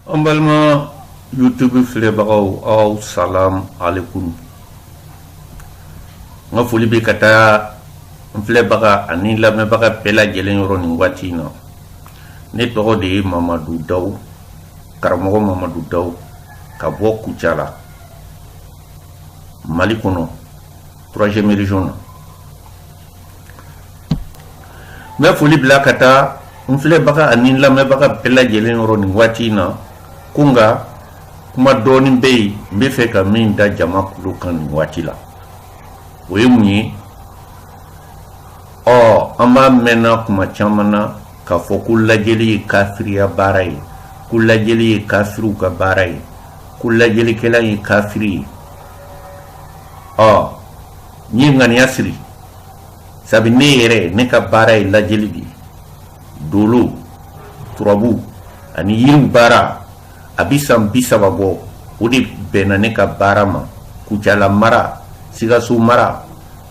An balima youtube filɛbagaw aw salamu alekum n ka foli bɛ ka taa n filɛbaga ani lamɛnbaga bɛɛ lajɛlen yɔrɔ nin waati in na ne tɔgɔ de ye mamadu daw karamɔgɔ mamadu daw ka bɔ kucala mali kɔnɔ troisième région na n bɛ foli bila ka taa n filɛbaga ani lamɛnbaga bɛɛ lajɛlen yɔrɔ nin waati in na ko n ka kuma dɔɔnin bɛ yen n bɛ fɛ ka min da jama kulo kan nin waati la o ye mun ye ɔ an b'a mɛnna kuma caman na k'a fɔ ko lajɛli ye kafiriya baara ye ko lajɛli ye kafiriw ka baara ye ko lajɛlikɛla ye kafiri ye ɔ N ye ŋaniya siri sabu ne yɛrɛ ne ka baara ye lajɛli de ye dolo turabu ani yiriw baara a bi san bi saba bɔ o de bɛnna ne ka baara ma kucala mara sikaso mara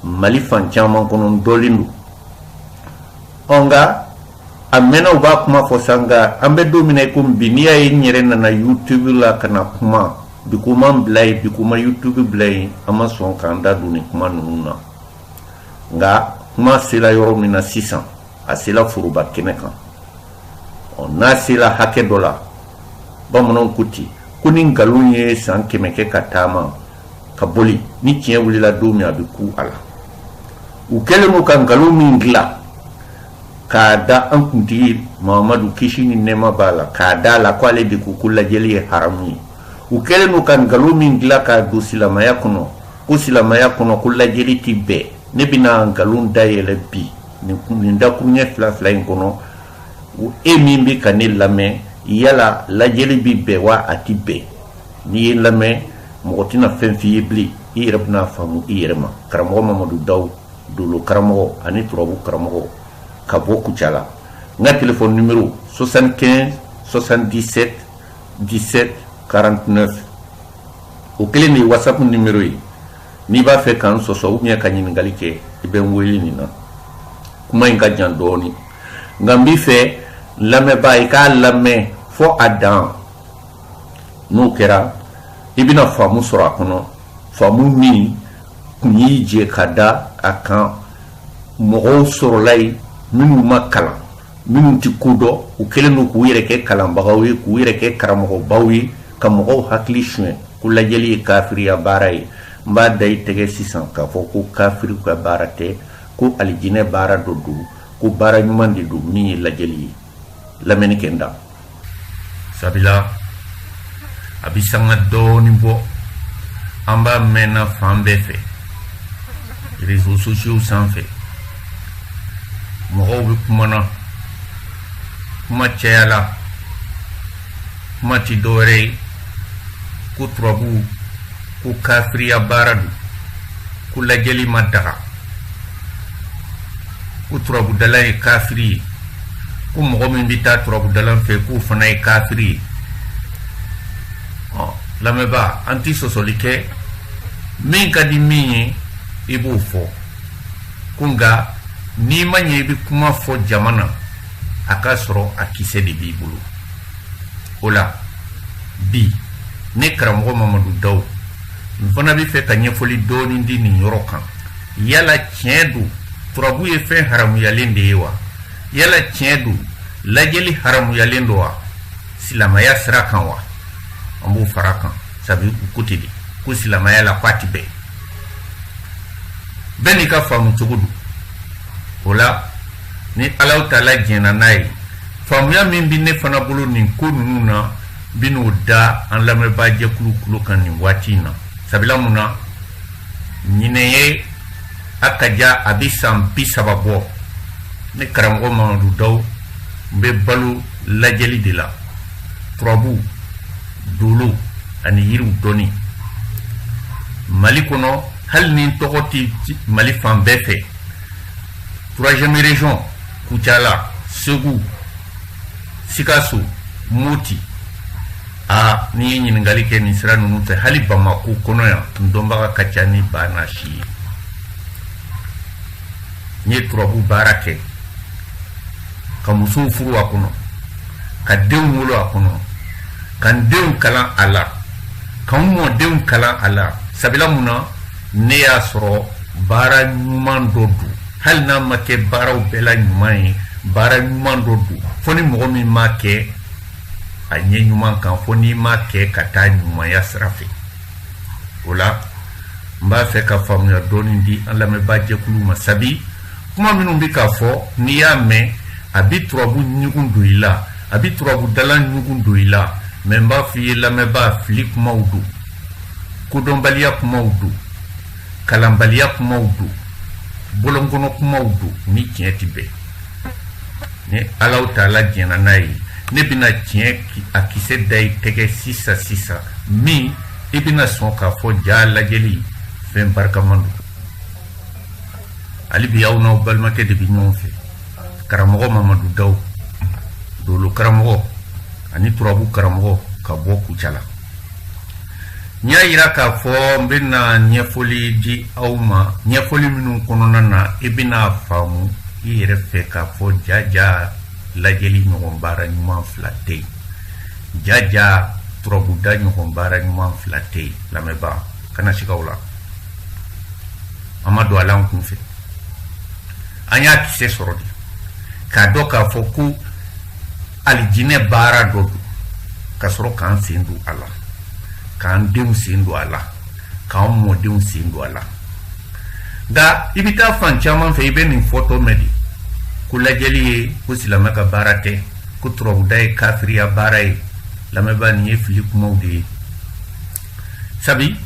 mali fan caman kɔnɔ dɔnnen don ɔ nka a mɛnna u b'a kuma fɔ sa nka an bɛ don min na i komi bi n'i y'a ye n yɛrɛ nana youtube la ka na kuma bi ko ma n bila yen bi ko ma youtube bila yen an ma sɔn k'an da don nin kuma ninnu na nka kuma sela yɔrɔ min na sisan a sela foroba kɛnɛ kan ɔ n'a sela hakɛ dɔ la bamananw ko ten ko ni nkalon ye san kɛmɛ kɛ ka taama ka boli ni tiɲɛ wulila don min a bɛ kun a la u kɛlen don ka nkalon min dilan k'a da an kuntigi mamadu kisi ni nɛɛma b'a la k'a da a la ko ale de ko ko lajɛli ye haramu ye u kɛlen don ka nkalon min dilan k'a don silamaya kɔnɔ ko silamaya kɔnɔ ko lajɛli tɛ bɛn ne bɛna nkalon dayɛlɛ bi nin nin dakuruɲɛ fila fila in kɔnɔ e min bɛ ka ne lamɛn yala lajɛli bɛ bɛn wa a tɛ bɛn n'i ye n lamɛn mɔgɔ tɛna fɛn f'i ye bilen i yɛrɛ bɛna faamu i yɛrɛ ma karamɔgɔ mamadu dawu dolo karamɔgɔ ani turabu karamɔgɔ ka bɔ kucala n ka telefɔni numero 75 77 17 49 o kelen de ye whatsapp numero ye n'i b'a fɛ k'an sɔsɔ ou bien ka ɲininkali kɛ i bɛ n wele nin na kuma in ka jan dɔɔni nka n b'i fɛ lamɛnbaa i k'a lamɛn fɔ a dan n'o kɛra i bɛna faamu sɔrɔ a kɔnɔ faamu min kun y'i jɛ ka da a kan mɔgɔw sɔrɔla yen minnu ma kalan minnu tɛ ko dɔn u kɛlen don k'u yɛrɛ kɛ kalanbagaw ye k'u yɛrɛ kɛ karamɔgɔbaw ye ka mɔgɔw hakili suɲɛ ko lajɛli ye kafiriya baara ye n b'a da i tɛgɛ sisan k'a fɔ ko kafiriw ka baara tɛ ko alijinɛ baara dɔ don ko baara ɲuman de don min ye lajɛli ye lamɛnni kɛ n da sabila a bi sanga dɔɔni bɔ an b'a mɛnna fan bɛɛ fɛ réseaux sociaux sanfɛ mɔgɔw bɛ kumana kuma cayala kuma ti dɔwɛrɛ ye ko turabuw ko kafiriya baara don ko lajɛli ma daga ko turabudala ye kafiri ye ko mɔgɔ min bɛ taa turabudala fɛ k'o fana ye kafiri ye ɔ lamɛnbaa an ti sɔsɔli kɛ min ka di min ye i b'o fɔ ko nka n'i ma ɲɛ i bɛ kuma fɔ jama na a ka sɔrɔ a kisɛ de b'i bolo o la bi ne karamɔgɔ mamadu daw n fana bɛ fɛ ka ɲɛfɔli dɔɔnin di nin yɔrɔ kan yala tiɲɛ don turabu ye fɛn haramuyalen de ye wa yala tiɲɛ don lajɛli haramuyalen don wa silamaya sira kan wa an b'o fara kan sabu u ko ten de ko silamaya la k'a ti bɛn bɛɛ n'i ka faamu cogo don o la ni alahu taala jɛnna n'a ye faamuya min bɛ ne fana bolo nin ko ninnu na bɛn'o da an lamɛnbaa jɛkulu kulo kan nin waati in na sabula mun na ɲinɛ ye a ka ja a bɛ san bi saba bɔ ne karamɔgɔ mamadu daw n bɛ balo lajɛli de la turabu dolo ani yiriw dɔnni mali kɔnɔ hali ni n tɔgɔ tɛ mali fan bɛɛ fɛ troisième région kucala segu sikaso moti a n'i ye ɲininkali kɛ nin sira ninnu fɛ hali bamako kɔnɔ yan n dɔnbaga ka ca ni ba n'a si ye n ye turabu baara kɛ ka musow furu a kɔnɔ ka denw wolo a kɔnɔ ka n denw kalan a la ka n mɔdenw kalan a la sabila mun na ne y'a sɔrɔ baara ɲuman dɔ don hali n'a ma kɛ baaraw bɛɛ la ɲuman ye baara ɲuman dɔ don fo ni mɔgɔ min m'a kɛ a ɲɛ ɲuman kan fo n'i m'a kɛ ka taa ɲumanya sira fɛ o la n b'a fɛ ka faamuya dɔɔni di an lamɛnbaa jɛkulu ma sabi kuma minnu bɛ ka fɔ n'i y'a mɛn a bɛ turabu ɲugun don i la a bɛ turabudala ɲugun don i la mais n b'a f'i ye lamɛnbaa fili kumaw don kodɔnbaliya kumaw don kalanbaliya kumaw don bolonkɔnɔ kumaw don ni tiɲɛ tɛ bɛn ni alahu taala jɛnna n'a ye ne bɛna tiɲɛ a kisɛ da i tɛgɛ sisan sisan min i bɛna sɔn k'a fɔ jaa lajɛli fɛn barikaman don hali bi aw n'aw balimakɛ de bɛ ɲɔgɔn fɛ karamɔgɔ mamadu daw dolo karamɔgɔ ani turabu karamɔgɔ ka bɔ kucala n y'a yira k'a fɔ n bɛna ɲɛfɔli di aw ma ɲɛfɔli minnu kɔnɔna na i bɛna faamu i yɛrɛ fɛ k'a fɔ jaja lajɛli ɲɔgɔn baara ɲuman fila tɛ yen jaja turabuda ɲɔgɔn baara ɲuman fila tɛ yen lamɛnbaa kana siga o la an ma don a la an kun fɛ an y'a kisɛ sɔrɔ de k'a dɔn k'a fɔ ko alijinɛ baara dɔ don ka sɔrɔ k'an sen don a la k'an denw sen don a la k'an mɔdenw sen don a la nka i bɛ taa fan caman fɛ i bɛ nin fɔtɔ mɛn de ko lajɛli ye ko silamɛ ka baara tɛ ko turabuda ye kafiriya baara ye lamɛnbaa nin ye fili kumaw de ye sabi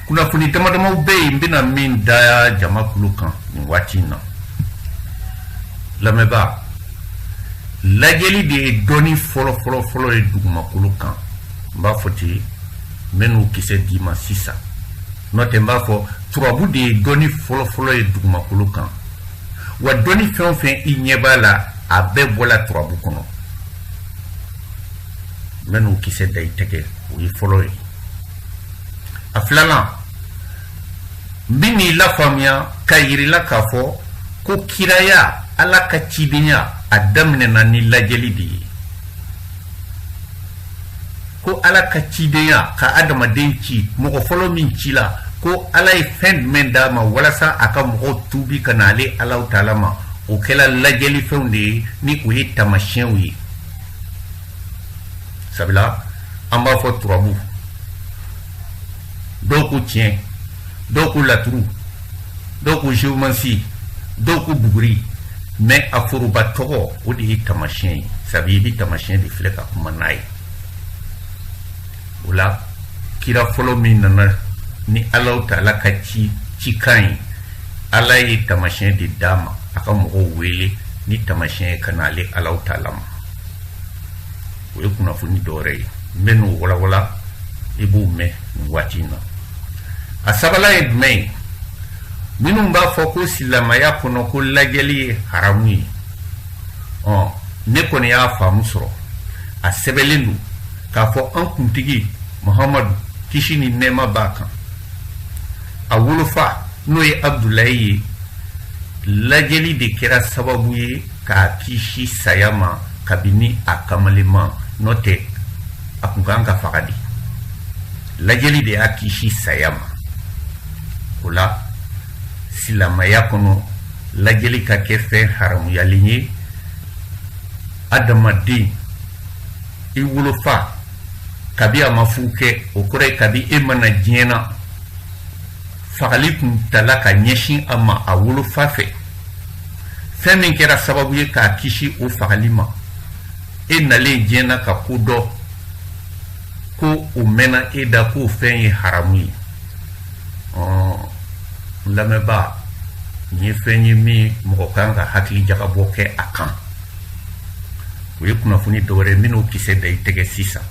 kunnafoni damadamaw bɛ yen n bɛna min da jama kulu kan nin waati in na lamɛnbaa lajɛli de ye dɔnni fɔlɔfɔlɔfɔlɔ ye dugumakolo kan n b'a fɔ ten n bɛ n'o kisɛ d'i ma sisan n'o tɛ n b'a fɔ turabu de ye dɔnni fɔlɔfɔlɔ ye dugumakolo kan wa dɔnni fɛn o fɛn i ɲɛ b'a la a bɛɛ bɔla turabu kɔnɔ n bɛ n'o kisɛ da i tɛgɛ o ye fɔlɔ ye a filanan n bɛ n'i lafaamuya k'a yir'i la k'a fɔ ko kiraya ala ka cidenya a daminɛna ni lajɛli de ye ko ala ka cidenya ka adamaden ci mɔgɔ fɔlɔ min cila ko ala ye fɛn jumɛn d'a ma walasa a ka mɔgɔw tuubi ka na ale alahu taala ma o kɛla lajɛlifɛnw de ye ni o ye tamasiyɛnw ye sabula an b'a fɔ turabu dɔw ko tiɲɛ dɔw ko laturu dɔw ko géomancie dɔw ko buguri mais a foroba tɔgɔ o de ye tamasiyɛn ye sabu i bɛ tamasiyɛn de filɛ ka kuma n'a ye o la kira fɔlɔ min nana ni alahu taala ka cikan ye ala ye tamasiyɛn de d'a ma a ka mɔgɔw wele ni tamasiyɛn ye ka na ale alahu taala ma o ye kunnafoni dɔwɛrɛ ye n bɛ n'o walawala i b'o mɛn nin waati in na a sabanan ye jumɛn ye minnu b'a fɔ ko silamaya kɔnɔ ko lajɛli ye haramu ye ɔ ne kɔni y'a faamu sɔrɔ a sɛbɛnlen don k'a fɔ an kuntigi muhamadu kisi ni nɛɛma b'a kan a wolofa n'o ye abudulayi ye lajɛli de kɛra sababu ye k'a kisi saya ma kabini a kamalema n'o tɛ a kun kan ka faga de lajɛli de y'a kisi saya ma o la silamaya kɔnɔ lajɛli ka kɛ fɛn haramuyalen ye adamaden i wolofa kabi a ma furu kɛ o kɔrɔ ye kabi e ma na diɲɛ na fagali tun tala ka ɲɛsin a ma a wolofa fɛ fɛn min kɛra sababu ye k'a kisi o fagali ma e nalen diɲɛ na ka ko dɔn ko o mɛnna e da k'o fɛn ye haramu ye n lamɛnbaa nin ye fɛn ye min mɔgɔ kan ka hakili jagabɔ kɛ a kan o ye kunnafoni dɔwɛrɛ ye n bɛ n'o kisɛ da i tɛgɛ sisan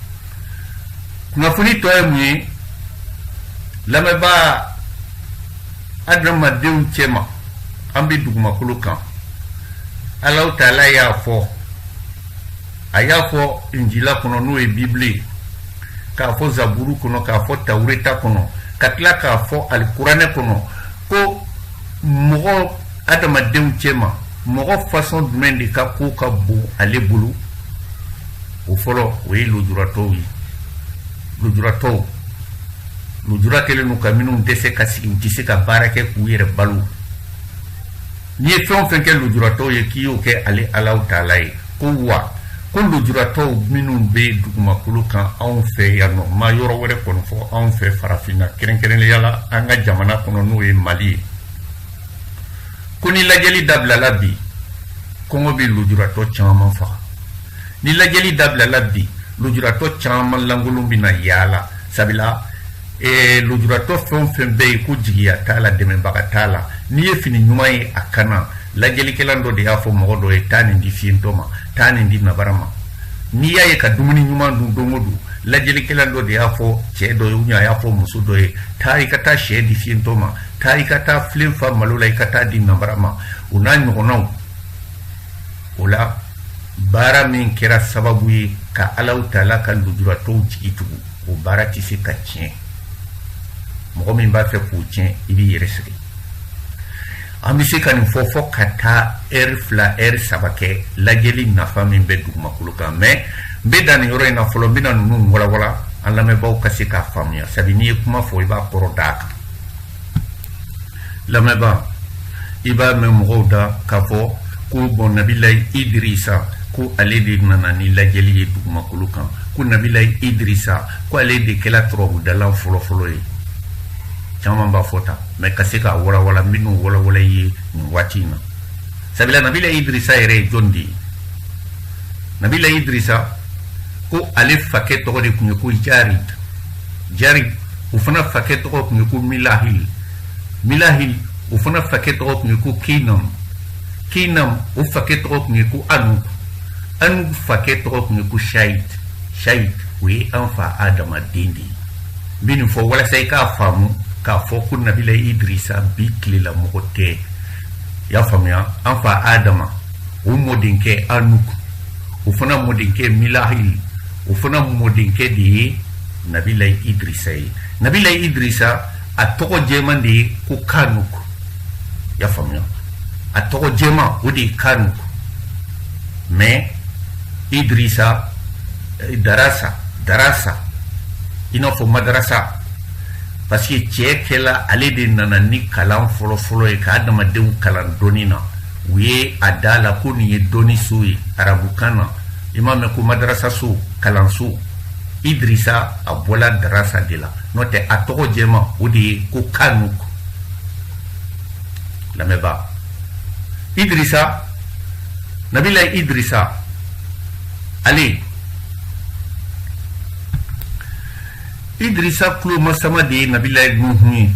kunnafoni tɔ ye mun ye lamɛnbaa adamadenw cɛma an bɛ dugumakolo kan alahu taala y'a fɔ a y'a fɔ njila kɔnɔ n'o ye bibile ye k'a fɔ zaburu kɔnɔ k'a fɔ tawureta kɔnɔ ka tila k'a fɔ alikuranɛ kɔnɔ ko mɔgɔ adamadenw cɛma mɔgɔ fasɔn jumɛn de ka ko ka bon ale bolo o fɔlɔ o ye lujuratɔw ye lujuratɔw lujura kɛlen don ka minnu dɛsɛ ka sigi u tɛ se ka baara kɛ k'u yɛrɛ balo n'i ye fɛn o fɛn kɛ lujuratɔw ye k'i y'o kɛ ale alahu taala ye ko wa ko lujuratɔw minnu bɛ dugumakolo kan anw fɛ yan ne ma yɔrɔ wɛrɛ kɔni fɔ anw fɛ farafinna kɛrɛnkɛrɛnnenya la an ka jamana kɔnɔ n'o ye mali ye ko ni lajɛli dabilala bi kɔngɔ bɛ lujuratɔ caman faga ni lajɛli dabilala bi lujuratɔ caman lankolon bɛna yaala sabula eh, lujuratɔ fɛn o fɛn bɛ yen ko jigiya t'a la dɛmɛbaga t'a la n'i ye fini ɲuman ye a kan na lajɛlikɛla dɔ de y'a fɔ mɔgɔ dɔ ye taa nin di fiyentɔ ma taa nin di nabara ma n'i y'a ye ka dumuni ɲuman dun don o don lajɛlikɛla dɔ de y'a fɔ cɛ dɔ ye ou bien a y'a fɔ muso dɔ ye taa i ka taa sɛ di fiyentɔ ma taa i ka taa filen fa malo la i ka taa di nabara ma o n'a ɲɔgɔnnaw o la baara min kɛra sababu ye ka alahu taala ka lujuratɔw jigi tugu o baara tɛ se ka tiɲɛ mɔgɔ min b'a fɛ k'o tiɲɛ i b'i yɛrɛ sɛgɛn an bɛ se ka nin fɔ fɔ ka taa ɛri fila ɛri saba kɛ lajɛli nafa min bɛ dugumakolo kan mais n bɛ dan nin yɔrɔ in na fɔlɔ n bɛna ninnu walawala an lamɛnbaaw ka se k'a faamuya sabu n'i ye kuma fɔ i b'a kɔrɔ d'a kan lamɛnbaa i b'a mɛn mɔgɔw da k'a fɔ ko bon nabilayi idirisa ko ale de nana ni lajɛli ye dugumakolo kan ko nabilayi idirisa ko ale de kɛla turabudalan fɔlɔfɔlɔ ye caman b'a fɔ tan mais ka se k'a walawala minnu walawala ye nin waati in na sabila nabilayi idirisa yɛrɛ ye jɔn de ye nabilayi idirisa ko ale fakɛ tɔgɔ de tun ye ko jarid jarid o fana fakɛ tɔgɔ tun ye ko milahil milahil o fana fakɛ tɔgɔ tun ye ko keinam keinam o fakɛ tɔgɔ tun ye ko anuk anuk fakɛ tɔgɔ tun ye ko shait shait o ye an fa adama den de ye n bɛ nin fɔ walasa i k'a faamu k'a fɔ ko nabilayi idirisa bi tilela mɔgɔ tɛ i y'a faamuya an fa adama o mɔdenkɛ anuk o fana mɔdenkɛ milahil o fana mɔdenkɛ de ye nabilayi idirisa ye nabilayi idirisa a tɔgɔ jɛman de ye ko kanuk y'a faamuya a tɔgɔ jɛman o de ye kanuk mais idirisa eh, darasa darasa i n'a fɔ madarasa parce que cɛ kɛla ale de nana ni kalan fɔlɔfɔlɔ ye ka adamadenw kalan dɔnni na u ye a da la ko nin ye dɔnni so ye arabukan na i m'a mɛn ko madarasaso kalanso idirisa a bɔla darasa de la n'o tɛ a tɔgɔ jɛman o de ye ko kanuk lamɛnbaa idirisa nabilayi idirisa ale idirisa tulomasama de ye nabilayi nuhun ye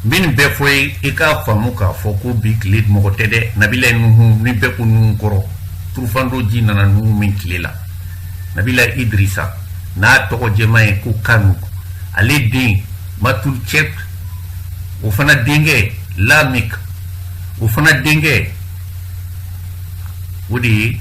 nin bɛɛ fɔ ye i k'a faamu k'a fɔ ko bi tile mɔgɔ tɛ dɛ nabilayi nuhun ni bɛɛ ko nuhun kɔrɔ turufando ji nana nuhun min tile la nabilayi idirisa n'a tɔgɔ jɛman ye ko kanuk ale den matulcɛk o fana denkɛ lamik o fana denkɛ o de ye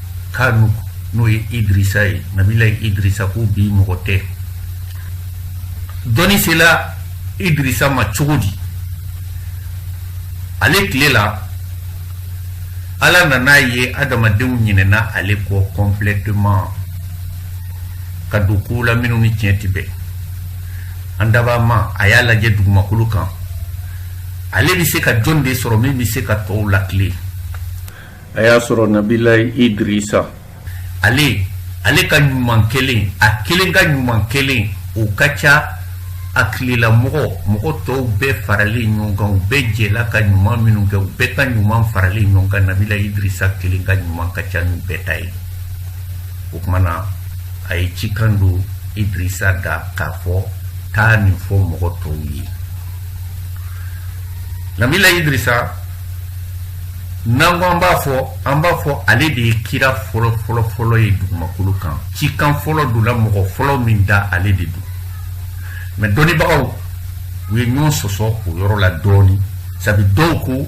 kanu n'o ye idrisa ye nabilayi idrisa ko bi mɔgɔ tɛ dɔnni sela idrisa ma cogo di ale tile la ala nan'a ye adamadenw ɲinɛna ale kɔ kɔnplɛteman ka don kow la minnu ni tiɲɛ tɛ bɛn an dabaa ma a y'a lajɛ dugumakolo kan ale bɛ se ka jɔn de sɔrɔ min bɛ se ka tɔw lakilen a y'a sɔrɔ nabila idrisa ale ale ka ɲuman kɛlen a kelen ka ɲuman kɛlen o ka ca a tilela mɔgɔ mɔgɔ tɔw bɛɛ faralen ɲɔgɔn kan u bɛɛ jɛla ka ɲuman minnu kɛ u bɛɛ ka ɲuman faralen ɲɔgɔn kan nabila idrisa kelen ka ɲuman ka ca n'u bɛɛ ta ye o tuma na a ye cikan don idrisa da k'a fɔ taa nin fɔ mɔgɔ tɔw ye nabila idrisa n'an ko an b'a fɔ an b'a fɔ ale de ye kira fɔlɔ fɔlɔ fɔlɔ ye dugumakolo kan cikan fɔlɔ donna mɔgɔ fɔlɔ min da ale de don mɛ dɔnnibagaw u ye ɲɔgɔn sɔsɔ o yɔrɔ la dɔɔni sabi dɔw ko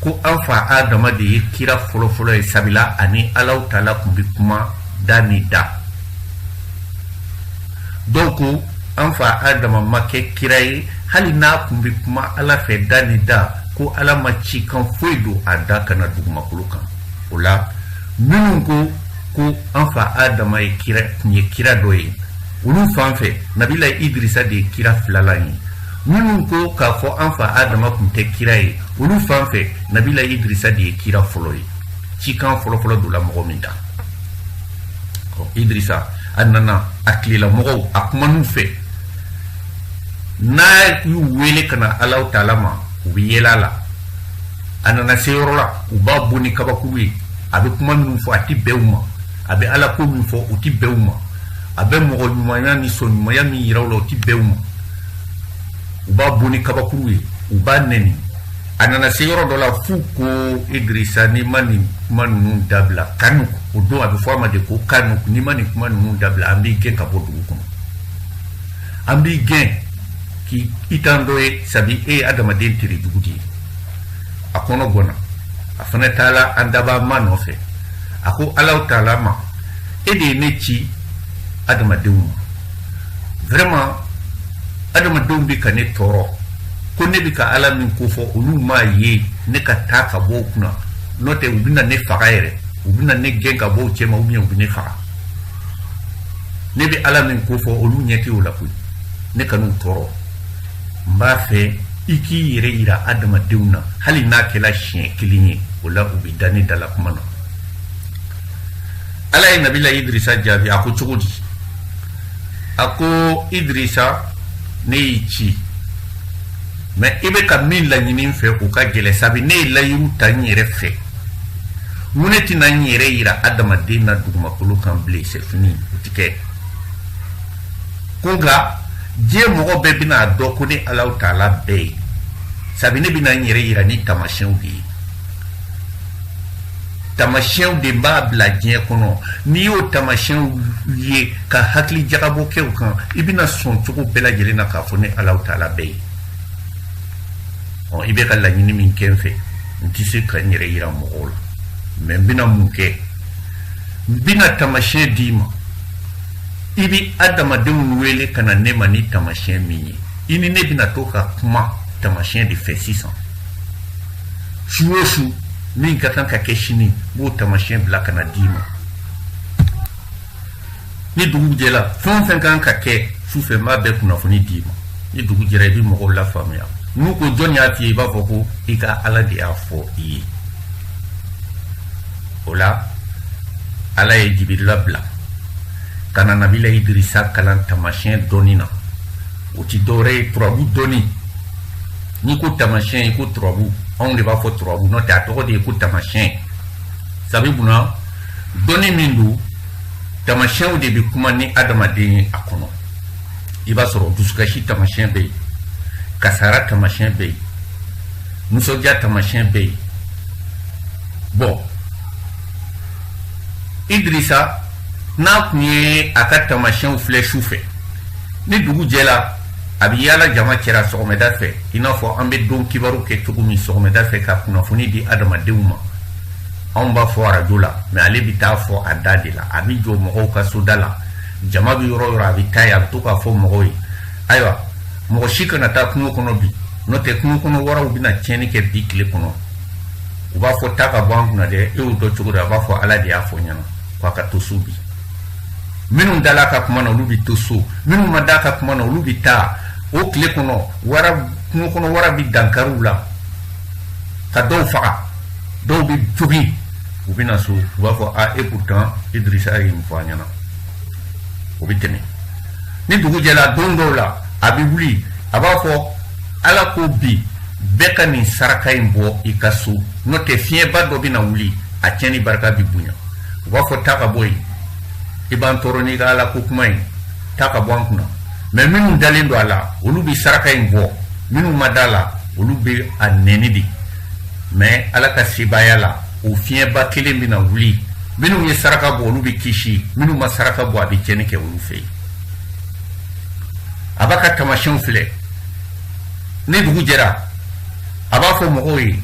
ko an fa adama de ye kira fɔlɔ fɔlɔ ye sabila a ni alaw taala kun bɛ kuma da ni da dɔw ko an fa adama ma kɛ kira ye hali n'a kun bɛ kuma ala fɛ da ni da ko ala ma cikan foyi don a da ka na dugumakolo kan o la minnu ko ko an fa adama ye kira kun ye kira dɔ ye olu fan fɛ nabila idirisa de ye kira filalan ye minnu ko k'a fɔ an fa adama kun tɛ kira ye olu fan fɛ nabila idirisa de ye kira fɔlɔ ye cikan fɔlɔfɔlɔ donna mɔgɔ min da idrisa a nana a tilelamɔgɔw a kuman'u fɛ n'a y'u wele ka na alaw taala ma u bɛ yɛlɛ a la a nana se yɔrɔ la u b'a bon ni kabakuru ye a bɛ kuma minnu fɔ a tɛ bɛn u ma a bɛ ala ko min fɔ o tɛ bɛn u ma a bɛ mɔgɔ ɲumanya ni sɔn ɲumanya min yira u la o tɛ bɛn u ma u b'a bon ni kabakuru ye u b'a nɛni a nana se yɔrɔ dɔ la f'u ko idirisa n'i ma nin kuma ninnu dabila kanu o don a bɛ fɔ a ma de ko kanu n'i ma nin kuma ninnu dabila an b'i gɛn ka bɔ dugu kɔnɔ an b'i gɛn k'i i t'an dɔ ye sabi e ye adamaden tere jugu de ye a kɔnɔ gɔnna a fana taala an dabaa ma nɔfɛ a ko alaw taala ma e de ye ne ci adamadenw ma vraiment adamadenw bɛ ka ne tɔɔrɔ ko ne bɛ ka ala min ko fɔ olu m'a ye ne ka taa ka bɔ u kunna n'o tɛ u bɛna ne faga yɛrɛ u bɛna ne gɛn ka bɔ u cɛma ou bien u bɛ ne faga ne bɛ ala min ko fɔ olu ɲɛ tɛ o la koyi ne kan'u tɔɔrɔ n b'a fɛ i k'i yɛrɛ yira adamadenw na hali n'a kɛla siɲɛ kelen ye o la u bɛ da ne dala kuma na ala ye nabila idirisa jaabi a ko cogo di a ko idirisa ne y'i ci mais i bɛ ka min laɲini fɛ o ka gɛlɛ sabi ne ye layiru ta n yɛrɛ fɛ mun ne tɛna n yɛrɛ yira adamaden na dugumakolo kan bilen c'est fini o ti kɛ ko nka diɲɛ mɔgɔ bɛɛ bɛna a dɔn ko ne alahu taala bɛ yen sabi ne bɛna n yɛrɛ yira ni taamasiyɛnw de ye tamasiyɛnw de n b'a bila diɲɛ kɔnɔ n'i y'o tamasiyɛnw ye ka hakili jagabɔ kɛ o kan i bɛna sɔn cogo bɛɛ lajɛlen na k'a fɔ ne alahu taala bɛ yen ɔ i bɛ ka laɲini min kɛ n fɛ n tɛ se ka n yɛrɛ yira mɔgɔw la mais n bɛna mun kɛ n bɛna tamasiyɛn d'i ma i bɛ adamadenw wele ka na ne ma ni tamasiyɛn min ye i ni ne bɛna to ka kuma tamasiyɛn de fɛ sisan su o su min ka kan ka kɛ sini n b'o tamasiyɛn bila ka na d'i ma ni dugu jɛra fɛn o fɛn kan ka kɛ su fɛ n b'a bɛɛ kunnafoni d'i ma ni dugu jɛra i bɛ mɔgɔw lafaamuya n'u ko jɔn y'a f'i ye i b'a fɔ ko i ka ala de y'a fɔ i ye o la ala ye jibirila bila ka na nabila idirisa kalan tamasiyɛn dɔnni na o ti dɔwɛrɛ ye turabu dɔnni n'i ko tamasiyɛn i ko turabu anw de b'a fɔ turabu n'o tɛ a tɔgɔ de ye ko tamasiyɛn sabi munna dɔnni min don tamasiyɛnw de bɛ kuma ni adamaden ye a kɔnɔ i b'a sɔrɔ dusukasi tamasiyɛn bɛ yen kasara tamasiyɛn bɛ yen nisɔndiya tamasiyɛn bɛ yen bon idirisa n'a kun ye a ka tamasiyɛnw filɛ su fɛ ni dugu jɛra a bɛ yaala jama cɛra sɔgɔmɛda fɛ i n'a fɔ an bɛ don kibaru kɛ cogo min sɔgɔmɛda fɛ ka kunnafoni di adamadenw ma anw b'a fɔ arajo la mais ale bɛ taa fɔ a da de la a bɛ jɔ mɔgɔw ka soda la jama bɛ yɔrɔ yɔrɔ a bɛ taa yen a bɛ to k'a fɔ mɔgɔw ye ayiwa mɔgɔ si kana taa kungo kɔnɔ bi n'o tɛ kungo kɔnɔ waraw bɛna tiɲɛni kɛ bi tile kɔnɔ u b'a fɔ taa ka bɔ an kunna dɛ e y'o dɔn cogo di a b'a fɔ ala de y'a fɔ n ɲɛna k'a ka to so bi minnu dala a ka kuma na olu bɛ to so minnu ma da a ka kuma na olu bɛ taa o tile kɔnɔ wara kungo kɔnɔ wara bɛ dankari u la ka dɔw faga dɔw bɛ jogin u bɛ na so u b'a fɔ a e pourtant Idrissa ye nin fɔ an ɲɛna o bɛ tɛmɛ ni dugu jɛra don dɔw la a bɛ wuli a b'a fɔ ala ko bi bɛɛ ka nin saraka in bɔ i ka so n'o tɛ fiɲɛba dɔ bɛ na wuli a tiɲɛni barika bɛ bonya u b'a fɔ taa ka bɔ yen i b'an tɔɔrɔ n'i ka ala ko kuma in taa ka bɔ an kunna mais minnu dalen don a la olu bɛ saraka in bɔ minnu ma da a la olu bɛ a nɛni de mais ala ka sebaaya la o fiɲɛba kelen bɛna wuli minnu ye saraka bɔ olu bɛ kisi minnu ma saraka bɔ a bɛ tiɲɛni kɛ olu fɛ yen a b'a ka tamasiyɛnw filɛ ni dugu jɛra a b'a fɔ mɔgɔw ye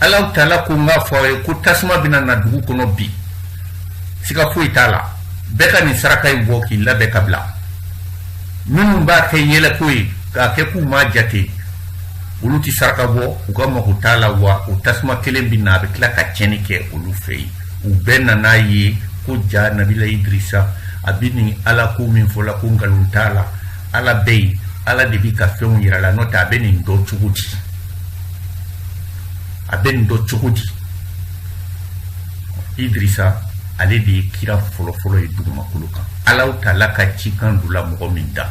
ala taala ko n k'a fɔ aw ye ko tasuma bɛna na dugu kɔnɔ bi siga foyi t'a la bɛɛ ka nin saraka in bɔ k'i labɛn ka bila minnu b'a kɛ yɛlɛko ye k'a kɛ k'u m'a jate olu tɛ saraka bɔ u ka mago t'a la wa o tasuma kelen bɛ na a bɛ tila ka tiɲɛni kɛ olu fɛ yen u bɛɛ nan'a ye ko jaa nabila idirisa a bɛ nin ala ko min fɔ la ko nkalon t'a la ala bɛ yen ala de bɛ ka fɛnw yira a la n'o tɛ a bɛ nin dɔn cogo di a bɛ nin dɔn cogo di idirisa ale de ye kira fɔlɔfɔlɔ ye dugumakolo kan ala taala ka cikan dula mɔgɔ min da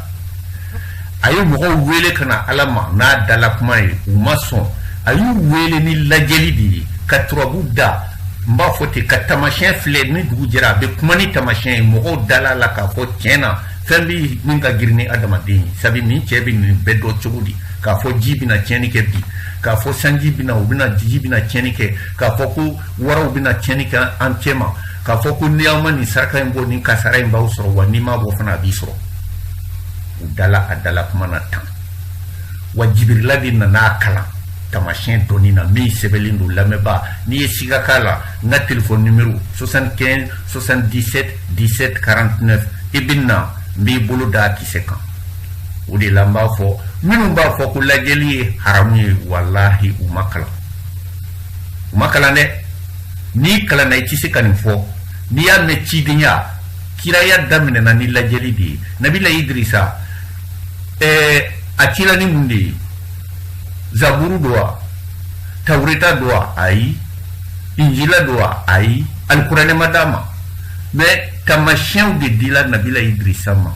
a ye mɔgɔw wele ka na ala ma n'a dala kuma ye u ma sɔn a y'u wele ni lajɛli de ye ka turabu da n b'a fɔ ten ka tamasiyɛn filɛ ni dugu jɛra a bɛ kuma ni tamasiyɛn ye mɔgɔw dala a la k'a fɔ tiɲɛ na fɛn bɛ min ka girin ni adamaden ye sabu nin cɛ bɛ nin bɛɛ dɔn cogo di k'a fɔ ji bɛna tiɲɛni kɛ bi k'a fɔ sanji bɛna u bɛna ji bɛna tiɲɛni kɛ k'a fɔ ko waraw bɛna tiɲɛni kɛ an cɛma k'a fɔ ko ni aw ma nin saraka in bɔ nin kasara in b'aw sɔrɔ wa n'i m'a bɔ fana a b'i sɔrɔ u dala a dala kuma na tan wa jibirila de nana a kalan tamasiyɛn dɔnni na min sɛbɛnlen don lamɛnbaa n'i ye siga k'a la n ka telefɔni nimero 75 77 17 49 i bɛ na n b'i bolo d'a kisɛ kan o de la n b'a fɔ minnu b'a fɔ ko lajɛli ye haramu ye walahi u ma kalan u ma kalan dɛ n'i kalanna i tɛ se ka nin fɔ n'i y'a mɛn cidenya kiraya daminɛna ni lajɛli de ye nabila idirisa ɛɛ eh, a cila ni mun de ye zaburu don wa tawureta don wa ayi injila don wa ayi alikuranɛ ma d'a ma mais tamasiyɛnw de dila nabila idrisa ma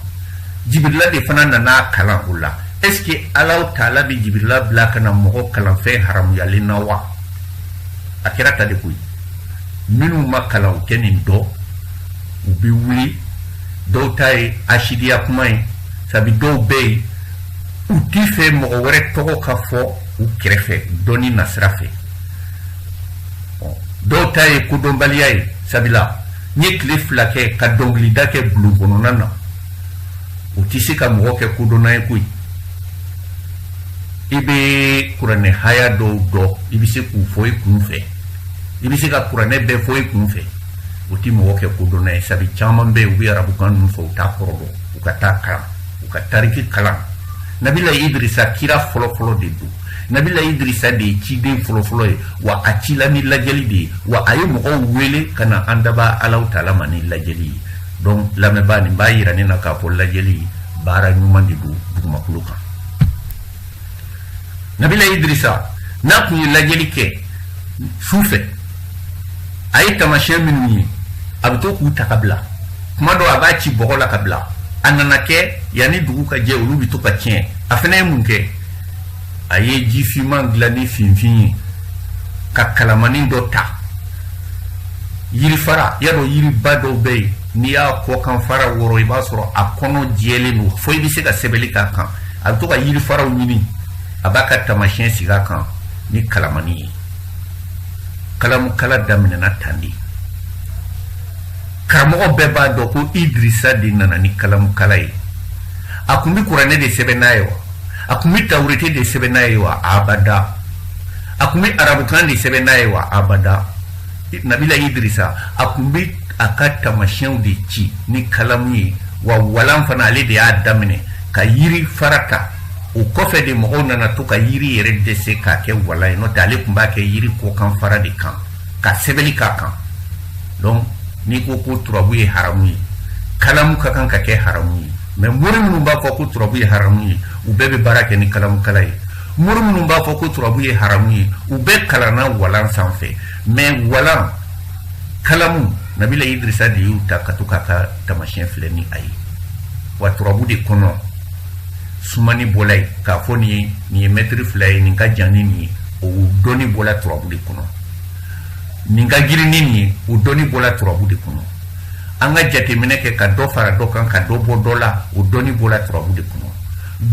jibirila de fana nan'a kalan o la est ce que ala taala bɛ jibirila bila ka na mɔgɔ kalanfɛn haramuyalen na wa a kɛra tan de koyi minnu ma kalan u tɛ nin dɔn u bɛ wuli dɔw ta ye asidiya kuma ye sabi dɔw bɛ yen u t'a fɛ mɔgɔ wɛrɛ tɔgɔ ka fɔ u kɛrɛfɛ dɔnni nasira fɛ dɔw ta ye kodɔnbaliya ye sabila n'i ye tile fila kɛ ka dɔnkilida kɛ bulon kɔnɔna na o tɛ se ka mɔgɔ kɛ kodɔnna ye koyi i bɛ kuranɛ haya dɔw dɔn i bɛ se k'u fɔ i kun fɛ i bɛ se ka kuranɛ bɛɛ fɔ i kun fɛ o tɛ mɔgɔ kɛ kodɔnna ye sabu caman bɛ yen u bɛ arabukan ninnu fɔ u t'a kɔrɔ dɔn u ka taa kalan u ka tariki kalan nabila idirisa kira fɔlɔfɔlɔ de don nabila idrisa de ye ciden fɔlɔfɔlɔ ye wa a cila ni lajɛli de ye wa a ye mɔgɔw wele ka na an dabaa ala taala ma ni lajɛli ye donc lamɛnbaa nin b'a yira ne na k'a fɔ lajɛli baara ɲuman de don dugumakolo kan nabila idrisa n'a kun ye lajɛli kɛ su fɛ a ye tamasiyɛn minnu ye a bɛ to k'u ta ka bila kuma dɔ a b'a ci bɔgɔ la ka bila a nana kɛ yanni dugu ka jɛ olu bɛ to ka tiɲɛ a fana ye mun kɛ a ye jifinman dilan ni finfin ye ka kalamanin dɔ ta yirifara y'a dɔn yiriba dɔw bɛ yen n'i y'a kɔkan fara wɔrɔ i b'a sɔrɔ a kɔnɔ jɛlen don fo i bɛ se ka sɛbɛnni k'a kan a bɛ to ka yirifaraw ɲini a b'a ka tamasiyɛn sigi a kan ni kalamanin ye kalamukala daminɛna tan de karamɔgɔ bɛɛ b'a dɔn ko idirisa de nana ni kalamukala ye a kun bɛ kuranɛ de sɛbɛn n'a ye wa a kun bɛ tawurete de sɛbɛn n'a ye wa abada a kun bɛ arabukan de sɛbɛn n'a ye wa abada nabila idirisa a kun bɛ a ka tamasiyɛnw de ci ni kalamu ye wa walan fana ale de y'a daminɛ ka yiri fara ta o kɔfɛ de mɔgɔw nana to ka yiri yɛrɛ dɛsɛ k'a kɛ walan ye n'o tɛ ale kun b'a kɛ yiri kɔkan fara de kan ka sɛbɛnni k'a kan donc n'i ko ko turabu ye haramu ye kalamu ka kan ka kɛ haramu ye mais mori minnu b'a fɔ ko turabu ye haramu ye u bɛɛ bɛ baara kɛ ni kalamukala ye mori minnu b'a fɔ ko turabu ye haramu ye u bɛɛ kalanna walan sanfɛ mais walan kalamu nabila idirisa de y'u ta ka to k'a ka tamasiyɛn filɛ ni a ye wa turabu de kɔnɔ sumanni bɔla yen k'a fɔ nin ye nin ye mɛtiri fila ye nin ka jan ni nin ye o dɔnni bɔla turabu de kɔnɔ nin ka girin ni nin ye o dɔnni bɔla turabu de kɔnɔ an ka jateminɛ kɛ ka dɔ fara dɔ kan ka dɔ bɔ dɔ la o dɔnni bɔra turabu de kɔnɔ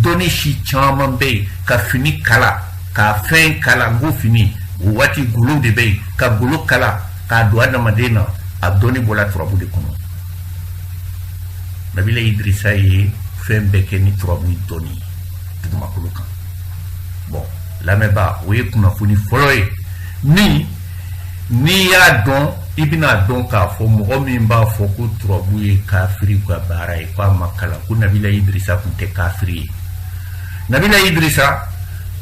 dɔnni si caman bɛ yen ka fini kala ka fɛn kala n ko fini o waati golo de bɛ yen ka golo kala k'a don adamaden na a dɔnni bɔra turabu de kɔnɔ nabila idirisa ye fɛn bɛɛ kɛ ni turabu dɔnni ye dugumakolo kan bɔn lamɛnbaa o ye kunnafoni fɔlɔ ye min n'i y'a dɔn i bɛna dɔn k'a fɔ mɔgɔ min b'a fɔ ko turabu ye kafiri ka baara ye k'a ma kalan ko nabila idirisa tun tɛ kafiri ye nabila idirisa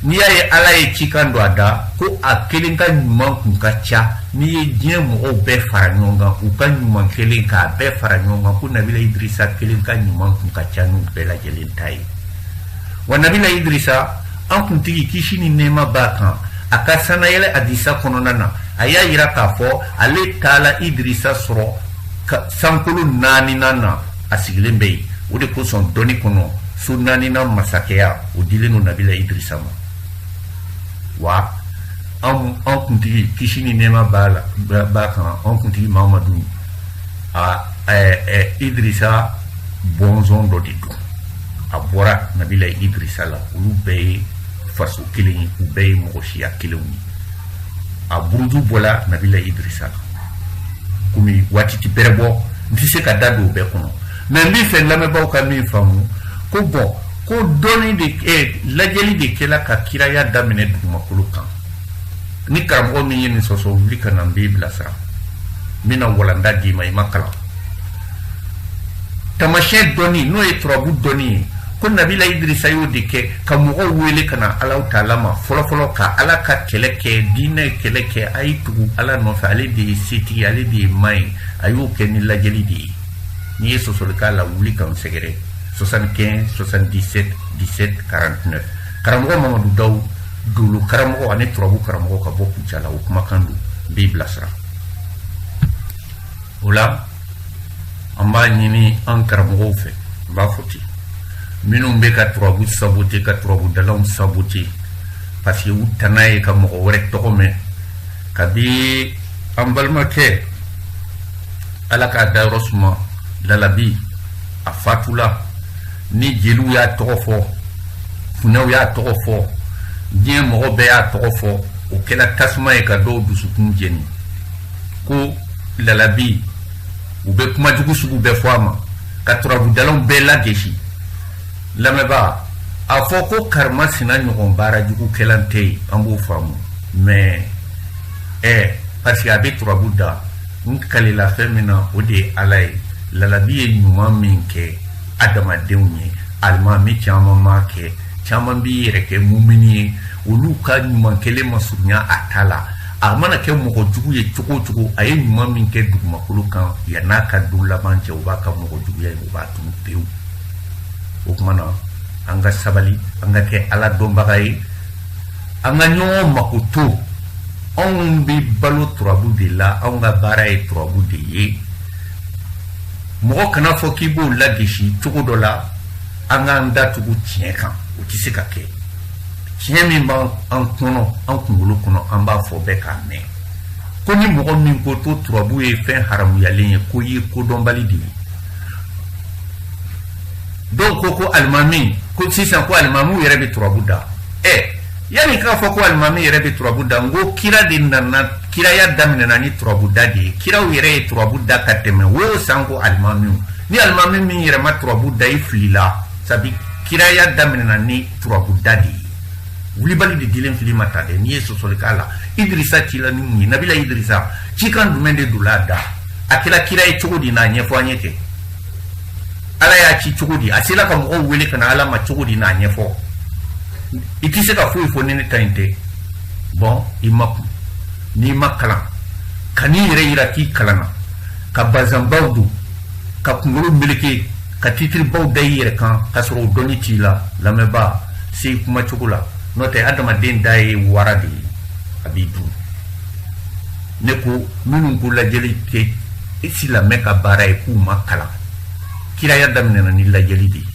n'i y'a ye ala ye cikan don a da ko a kelen ka ɲuman kun ka ca n'i ye diɲɛ mɔgɔw bɛɛ fara ɲɔgɔn kan u ka ɲuman kɛlen k'a bɛɛ fara ɲɔgɔn kan ko nabila idirisa kelen ka ɲuman kun ka ca n'u bɛɛ lajɛlen ta ye wa nabila idrisa an kuntigi kisi ni nɛɛma b'a kan a ka sannayɛlɛ hadisa kɔnɔna na a y'a yira k'a fɔ ale taala idrisa sɔrɔ sankolo naaninan na a sigilen bɛ yen o de kosɔn dɔnni kɔnɔ so naaninan masakɛya o dilen don nabila idrisa ma wa an an kuntigi kisi ni nɛɛma b'a la b'a kan an kuntigi mamadu a idrisa bɔnsɔn dɔ de don a bɔra nabila idrisa la olu bɛɛ ye faso kelen ye u bɛɛ ye mɔgɔ siya kelenw ye a buruju bɔla nabila idrisa la komi waati ti bɛrɛ bɔ n tɛ se ka da don o bɛɛ kɔnɔ mɛ n bɛ fɛ lamɛnbaaw ka min faamu ko bɔn ko dɔnni de eh, lajɛli de kɛla ka kiraya daminɛ dugumakolo kan ni karamɔgɔ min ye nin sɔsɔ wuli ka na n b'i bilasira n bɛna walanda d'i ma i ma kalan tamasiyɛn dɔnni n'o ye turabu dɔnni ye ko nabila idirisa y'o de kɛ ka mɔgɔw wele ka na alahu taala ma fɔlɔfɔlɔ ka ala ka kɛlɛ kɛ diinɛ kɛlɛ kɛ a ye tugu ala nɔfɛ ale de ye setigi ale de ye ma ye a y'o kɛ ni lajɛli de ye n'i ye sɔsɔli k'a la wuli ka n sɛgɛrɛ 75 77 17 49 karamɔgɔ mamadu daw dolo karamɔgɔ ani turabu karamɔgɔ ka bɔ kucala o kumakan don n b'i bilasira o la an b'a ɲini an karamɔgɔw fɛ n b'a fɔ ten minnu bɛ ka turabu sabote ka turabu dalaw sabote parce que u tana ye ka mɔgɔ wɛrɛ tɔgɔ mɛn kabi an balimakɛ ala k'a dayɔrɔ suma lalabi a fatula ni jeliw y'a tɔgɔ fɔ funɛw y'a tɔgɔ fɔ diɲɛ mɔgɔ bɛɛ y'a tɔgɔ fɔ o kɛra tasuma ye ka dɔw dusukun jeni ko lalabi u bɛ kuma jugu sugu bɛɛ fɔ a ma ka turabudalaw bɛɛ lagesi lamɛnbaa a fɔ ko karima sina ɲɔgɔn baara jugu kɛla tɛ yen an b'o faamu mais parce que a bɛ turabu da n kalela fɛn min na o de ye ala ye lalabi ye ɲuman min kɛ adamadenw ye alimami caman m'a kɛ caman b'i yɛrɛ kɛ mumini ye olu ka ɲuman kelen ma surunya a ta la a mana kɛ mɔgɔ jugu ye cogo o cogo a ye ɲuman min kɛ dugumakolo kan yan'a ka don laban cɛ o b'a ka mɔgɔ juguya in o b'a tunu pewu o tuma na an ka sabali an ka kɛ ala dɔnbaga ye an ka ɲɔgɔn makoto anw bɛ balo turabu de la anw ka baara ye turabu de ye mɔgɔ kan'a fɔ k'i b'o lagesi cogo dɔ la an k'an datugu tiɲɛ kan o tɛ se ka kɛ tiɲɛ min b'an kɔnɔ an kunkolo kɔnɔ an b'a fɔ bɛɛ k'a mɛn ko ni mɔgɔ min ko to turabu ye fɛn haramuyalen ye k'o ye kodɔnbali de ye dɔw ko ko alimami ko sisan ko alimami yɛrɛ bɛ turabu da ɛ yanni k'a fɔ ko alimami yɛrɛ bɛ turabu da n ko kira de nana kiraya daminɛna ni turabu da de ye kiraw yɛrɛ ye turabu da ka tɛmɛ wo sanko alimamiw ni alimami min yɛrɛ ma turabu da i filila sabi kiraya daminɛna ni turabuda de ye wulibali de dilen fili ma ta dɛ n'i ye sɔsɔli k'a la idirisa cila ni mun ye nabila idirisa cikan jumɛn de donna a da a kɛra kira ye cogo di n'a ɲɛfɔ an ye kɛ ala y'a ci cogo di a sela ka mɔgɔw wele ka na ala ma cogo di n'a ɲɛfɔ i tɛ se ka foyi fɔ ni ne ta in tɛ bɔn i makun n'i ma kalan kan'i yɛrɛ yira k'i kalanna ka bazanbaw don ka kunkolo meleke ka titiribaw da i yɛrɛ kan k'a sɔrɔ o dɔnni t'i la lamɛnbaa se i kuma cogo la n'o tɛ adamaden da ye wara de ye a b'i dun ne ko minnu ko lajɛli tɛ silamɛ ka baara ye k'u ma kalan kiraya daminɛna ni lajɛli de ye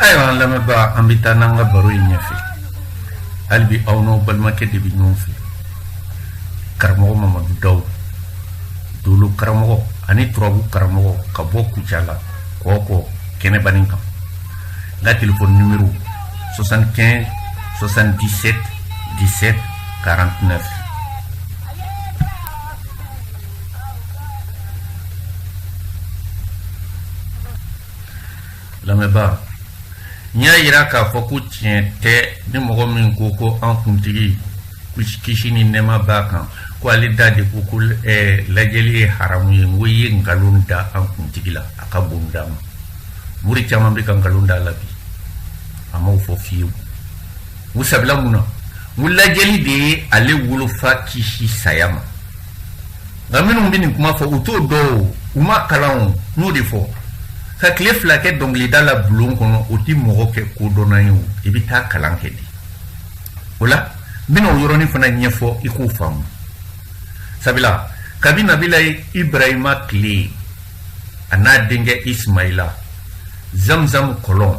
Ayiwa an lamɛnbaa an bɛ taa n'an ka baro ye ɲɛfɛ hali bi aw n'aw balimakɛ de bɛ ɲɔgɔn fɛ karamɔgɔ mamadu dawu doolo karamɔgɔ ani turabu karamɔgɔ ka bɔ kucala kɔkɔ kɛnɛbanin kan n ka telefɔni nimero 75 77 17 49 lamɛnbaa n y'a yira k'a fɔ ko tiɲɛ tɛ ni mɔgɔ min ko ko an kuntigi kisi ni nɛɛma b'a kan ko ale da de ko ko eh, lajɛli ye haramu ye n ko i ye nkalon da an kuntigi la a ka bon d'a ma mori caman bɛ ka nkalon d'a la bi a m'o fɔ fiyewu u sabula mun na n lajɛli de ye ale wolofa kisi saya ma nka minnu bɛ nin kuma fɔ u t'o dɔn o u m'a kalan o n'o de fɔ ka tile fila kɛ dɔnkilida la bulon kɔnɔ o tɛ mɔgɔ kɛ kodɔnna ye o i bɛ taa kalan kɛ de o la n bɛna o yɔrɔnin fana ɲɛfɔ i k'o faamu sabula kabi nabila ibrahima tile a n'a denkɛ ismaila zamzam kɔlɔn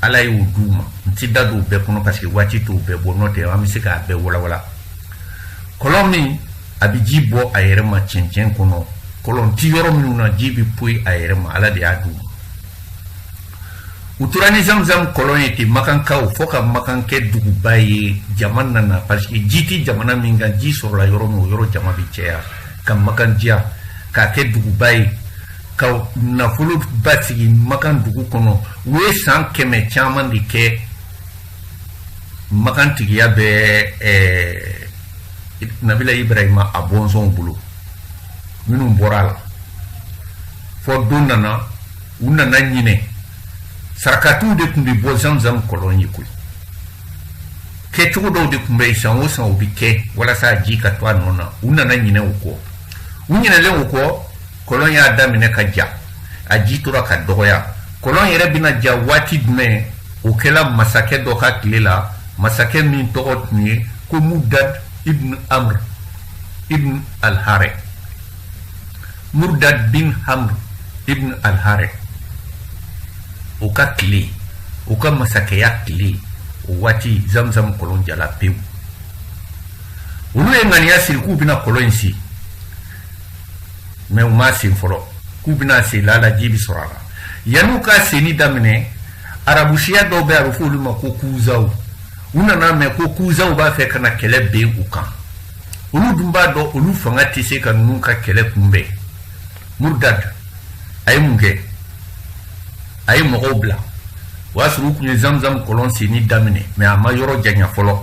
ala y'o d'u ma n ti da don o bɛɛ kɔnɔ parce que waati t'o bɛɛ bɔ n'o tɛ an bɛ se k'a bɛɛ walawala kɔlɔn min a bɛ ji bɔ a yɛrɛ ma cɛncɛn kɔnɔ kɔlɔn ti yɔrɔ minnu na ji bɛ poyi a yɛrɛ ma ala de y'a d'u ma u tora ni zamzam kɔlɔn ye ten makankaw fɔ ka makan kɛ duguba ye jama nana parce que ji tɛ jamana min kan ji sɔrɔla yɔrɔ min o yɔrɔ jama bɛ cɛya ka makan diya k'a kɛ duguba ye ka nafolo basigi makan dugu kɔnɔ u ye san kɛmɛ caman de kɛ makan tigiya bɛ eh, nabila ibrahima a bɔnsɔnw bolo minnu bɔra a la fɔ don nana u nana ɲinɛ sarakatiw de tun bɛ bɔ zamzam kɔlɔn ye koyi kɛcogo dɔw de tun bɛ yen san o san o bɛ kɛ walasa ji ka to a nɔ na u nana ɲinɛ o kɔ u ɲinɛlen o kɔ kɔlɔn y'a daminɛ ka ja a ji tora ka dɔgɔya kɔlɔn yɛrɛ bɛna ja waati jumɛn o kɛla masakɛ dɔ ka tile la masakɛ min tɔgɔ tun ye ko mudad ibn amr ibn alhare mudad bin amr ibn alhare o ka tile o ka masakɛya tile o waati zamzam kɔlɔn jala pewu olu ye ŋaniya siri k'u bɛna kɔlɔn in sen mais u m'a sen fɔlɔ k'u bɛn'a sen laala ji bi sɔrɔ a la yan'u ka senni daminɛ arabusiya dɔw bɛ a bɛ fɔ olu ma ko kuzaw u nana mɛn ko kuzaw b'a fɛ ka na kɛlɛ bin u kan olu dun b'a dɔn olu fanga tɛ se ka ninnu ka kɛlɛ kunbɛn murdad a ye mun kɛ a ye mɔgɔw bila o y'a sɔrɔ u tun ye zamzam kɔlɔn senni daminɛ mɛ a ma yɔrɔ janya fɔlɔ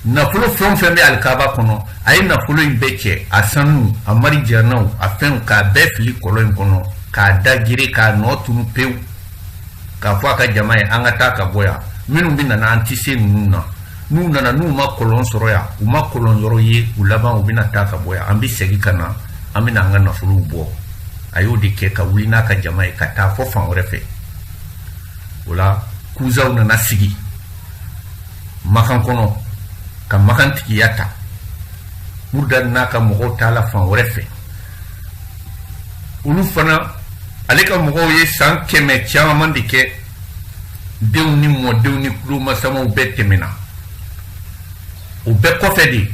nafolo fɛn o fɛn bɛ alikaba kɔnɔ a ye nafolo in bɛɛ cɛ a sanu a marijanaw a fɛnw k'a bɛɛ fili kɔlɔn in kɔnɔ k'a da gere k'a nɔ tunu pewu k'a fɔ a ka jama ye an ka taa ka bɔ yan minnu bɛ nana an tɛ se ninnu na n'u nana n'u ma kɔlɔn sɔrɔ yan u ma kɔlɔn yɔrɔ ye u laban u bɛna taa ka bɔ yan an bɛ segin ka na an bɛna an ka nafolow bɔ a y'o de kɛ ka wuli n'a ka jama ye ka taa fɔ fan wɛrɛ fɛ o la kuzaw nana sigi makan kɔnɔ ka makan tigiya ta murudad n'a ka mɔgɔw taala fan wɛrɛ fɛ olu fana ale ka mɔgɔw ye san kɛmɛ caman de kɛ denw ni mɔdenw ni kulomasamaw bɛɛ tɛmɛna o bɛɛ kɔfɛ de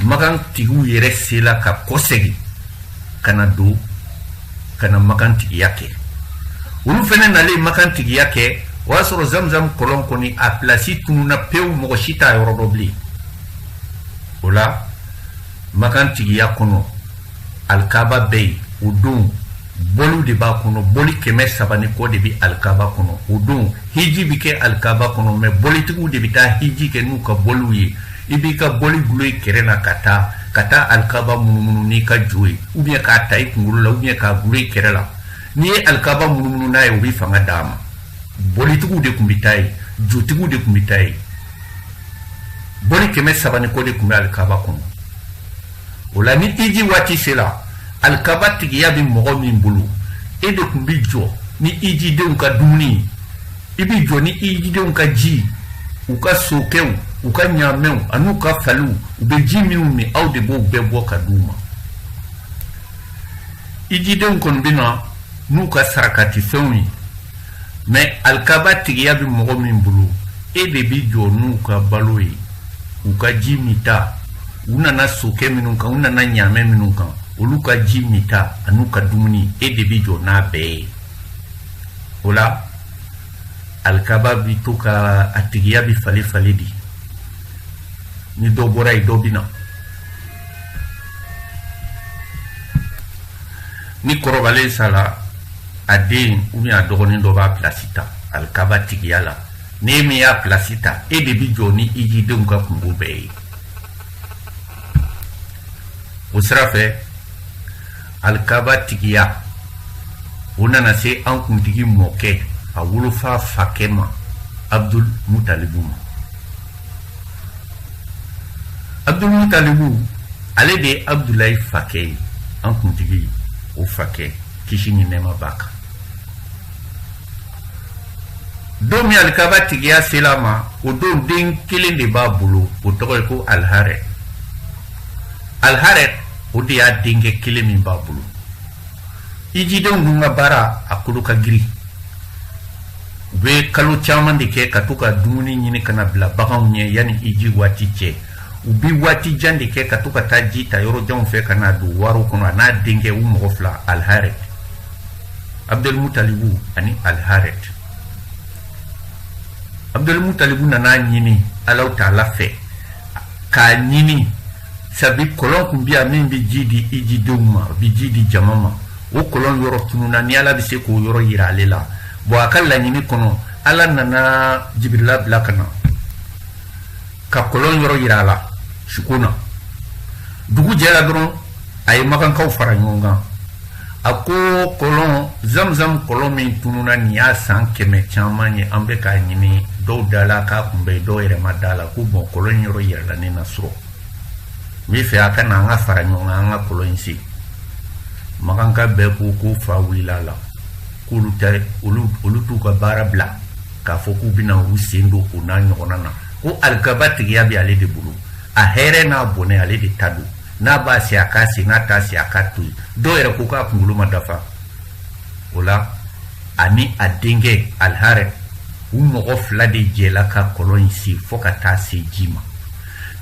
makan tigiw yɛrɛ sela ka kɔsegin ka na don ka na makan tigiya kɛ olu fɛnɛ nalen makan tigiya kɛ o y'a sɔrɔ zamzam kɔlɔn kɔni a pilasi tununa pewu mɔgɔ si t'a yɔrɔ dɔn bilen o la makan tigiya kɔnɔ alikaba bɛ yen o don boliw de b'a kɔnɔ boli kɛmɛ saba ni kɔ de bɛ alikaba kɔnɔ o don hiji bɛ kɛ alikaba kɔnɔ mɛ bolitigiw de bɛ taa hiji kɛ n'u ka boliw ye i b'i ka boli gulo i kɛrɛ na ka taa alikaba munumunu n'i ka jo ye ou bien k'a ta i kunkolo la ou bien k'a gulo i kɛrɛ la n'i ye alikaba munumunu n'a ye o bɛ fanga d'a ma bolitigiw de tun bɛ taa yen jotigiw de tun bɛ taa yen boli kɛmɛ saba ni kɔ de tun bɛ alikaba kɔnɔ o la ni iji waati sera alikaba tigiya bɛ mɔgɔ min bolo e de tun bɛ jɔ ni ijidenw ka dumuni i bɛ jɔ ni ijidenw ka ji u ka sokɛw u ka ɲaamɛw an'u ka faliw u bɛ ji minnu min aw de b'o bɛɛ bɔ ka di u ma ijidenw kɔni bɛ na n'u ka sarakatifɛnw ye mɛ alikaba tigiya bɛ mɔgɔ min bolo e de bɛ jɔ n'u ka balo ye u ka ji mita u nana sokɛ minnu kan u nana ɲaamɛ minnu kan olu ka ji mita an'u ka dumuni e de bɛ jɔ n'a bɛɛ ye o la alikaba bɛ to ka a tigiya bɛ fale fale de ni dɔ bɔra yen dɔ bɛ na ni kɔrɔbalen sala a den ou bien a dɔgɔnin dɔ b'a pilasi ta alikaba tigiya la n'e min y'a pilasi ta e de bi jɔ ni ijidenw ka kunko bɛɛ ye o sira fɛ alikaba tigiya o nana se an kuntigi mɔkɛ a wolofa fakɛ ma abdul mutalibu ma abdulmutalibu ale de ye abudulayi fakɛ ye an kuntigi o fakɛ kisi ni nɛɛma b'a kan don min alikaba tigiya sela a ma o don den kelen de b'a bolo o tɔgɔ ye ko alharet alharet o de y'a denkɛ kelen min b'a bolo ijidenw dun ka baara a kolo ka girin u bɛ kalo caman de kɛ ka to ka dumuni ɲini ka n'a bila baganw ɲɛ yanni iji waati cɛ u bɛ waati jan de kɛ ka to ka taa ji ta yɔrɔ janw fɛ ka n'a don wariw kɔnɔ a n'a denkɛ u mɔgɔ fila alharet abdulmutalibu ani alharet abdulmutalibu nan'a ɲini alahu taala fɛ k'a ɲini sabi kɔlɔn kun bi yan min bɛ ji di ijidenw ma bi ji di jama ma o kɔlɔn yɔrɔ tununa ni ala bɛ se k'o yɔrɔ yira ale la bɔn a ka laɲini kɔnɔ ala nana jibirila bila ka na ka kɔlɔn yɔrɔ yira a la suko na dugu jɛra dɔrɔn a ye makankaw fara ɲɔgɔn kan a ko kɔlɔn zamzam kɔlɔn min tununa nin y'a san kɛmɛ caman ye an bɛ k'a ɲini dɔw dala k'a kun bɛ dɔw yɛrɛ ma d'a la ko bɔn kɔlɔn in yɔrɔ yirala ne na su rɔ n b'a fɛ a ka na an ka fara ɲɔgɔn kan an ka kɔlɔn in sen makanka bɛɛ ko ko fa wulila a la k'olu tɛ olu t'u ka baara bila k'a fɔ k'u bɛna u sen don o n'a ɲɔgɔnna na ko alikaba tigiya bɛ ale de bolo a hɛrɛ n'a bɔnɛ ale de ta don n'a b'a sen a k'a sen n'a t'a sen a k'a to yen dɔw yɛrɛ ko k'a kunkolo ma dafa o la ani a denkɛ alharet u mɔgɔ fila de jɛla ka kɔlɔn in sen fɔɔ ka taa se ji ma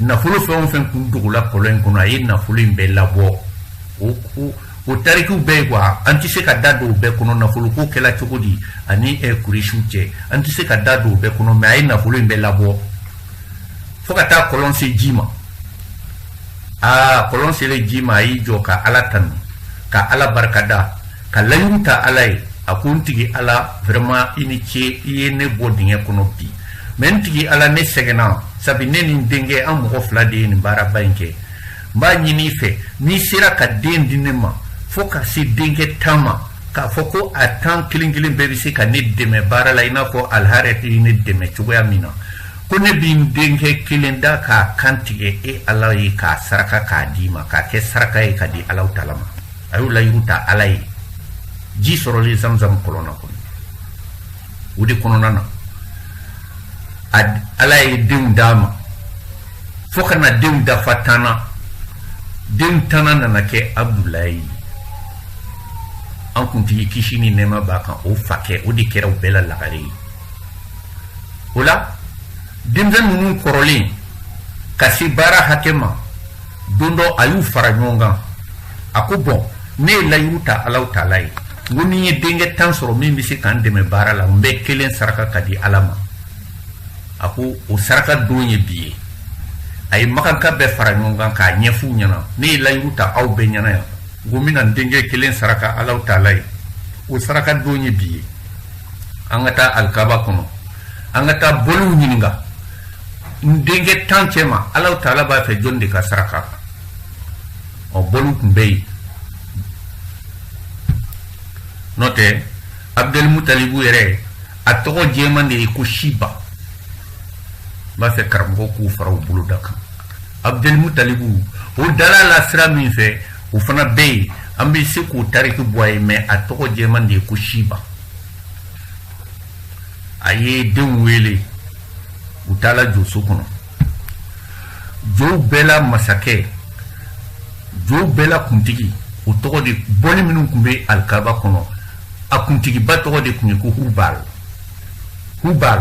nafolo fɛn o fɛn kun dogola kɔlɔn in kɔnɔ a ye nafolo in bɛɛ labɔ o ko o tarikiw bɛ yen kuwa an tɛ se ka da don o bɛɛ kɔnɔ nafoloko kɛla cogo di ani kuresiw cɛ an tɛ se ka da don o bɛɛ kɔnɔ mɛ a ye nafolo in bɛɛ labɔ fo ka taa kɔlɔn se ji ma aa kɔlɔn selen ji ma a y'i jɔ ka ala tanu ka ala barikada ka layiru ta ala ye a ko n tigi ala vraiment i ni ce i ye ne bɔ dingɛ kɔnɔ bi mɛ n tigi ala ne sɛgɛnna sabi ne ni n denkɛ an mɔgɔ fila de ye nin baaraba in kɛ n b'a ɲini i fɛ n'i sera ka den di ne ma fo ka se denkɛ tan ma k'a fɔ ko a tan kelen kelen bɛɛ bɛ se ka ne dɛmɛ baara la i n'a fɔ alharet ye ne dɛmɛ cogoya min na ko ne bɛ n denkɛ kelen da k'a kan tigɛ e ala ye k'a saraka k'a d'i ma k'a kɛ saraka ye ka di alahu taala ma a y'o layiru ta ala ye ji sɔrɔlen zamzam kɔlɔn na kɔnɔ o de kɔnɔna na ala ye denw d'a ma fo ka na denw dafa tan na denw tannan nana kɛ abudulayi ye an kuntigi kisi ni nɛɛma b'a kan o fakɛ o de kɛra u bɛɛ la lagare ye o la denmisɛn ninnu kɔrɔlen ka se baara hakɛ ma don dɔ a y'u fara ɲɔgɔn kan a ko bɔn ne ye layiru ta alahu taala ye n ko ni n ye denkɛ tan sɔrɔ min bɛ se ka n dɛmɛ baara la n bɛ kelen saraka ka di ala ma a ko o saraka don ye bi ye a ye makanka bɛɛ fara ɲɔgɔn kan k'a ɲɛf'u ɲɛna ne ye layiru ta aw bɛɛ ɲɛna yan n ko n bɛna n denkɛ kelen saraka alahu taala ye o saraka don ye bi ye an ka taa alikaba kɔnɔ an ka taa boliw ɲininka n denkɛ tan cɛ ma alahu taala b'a fɛ jɔn de ka saraka ɔ boliw tun bɛ yen n'o tɛ abudulimutalibu yɛrɛ a tɔgɔ jɛman de ye ko siba n b'a fɛ karamɔgɔw k'o fara u bolo ta kan abudulimutalibu o dal'a la sira min fɛ o fana bɛ yen an bɛ se k'o tariki bɔ a ye mɛ a tɔgɔ jɛman de ye ko siba a ye denw wele u taala joso kɔnɔ jow bɛɛ la masakɛ jow bɛɛ la kuntigi o tɔgɔ de boli minnu tun bɛ alikaba kɔnɔ a kuntigiba tɔgɔ de tun ye ko hubal hubal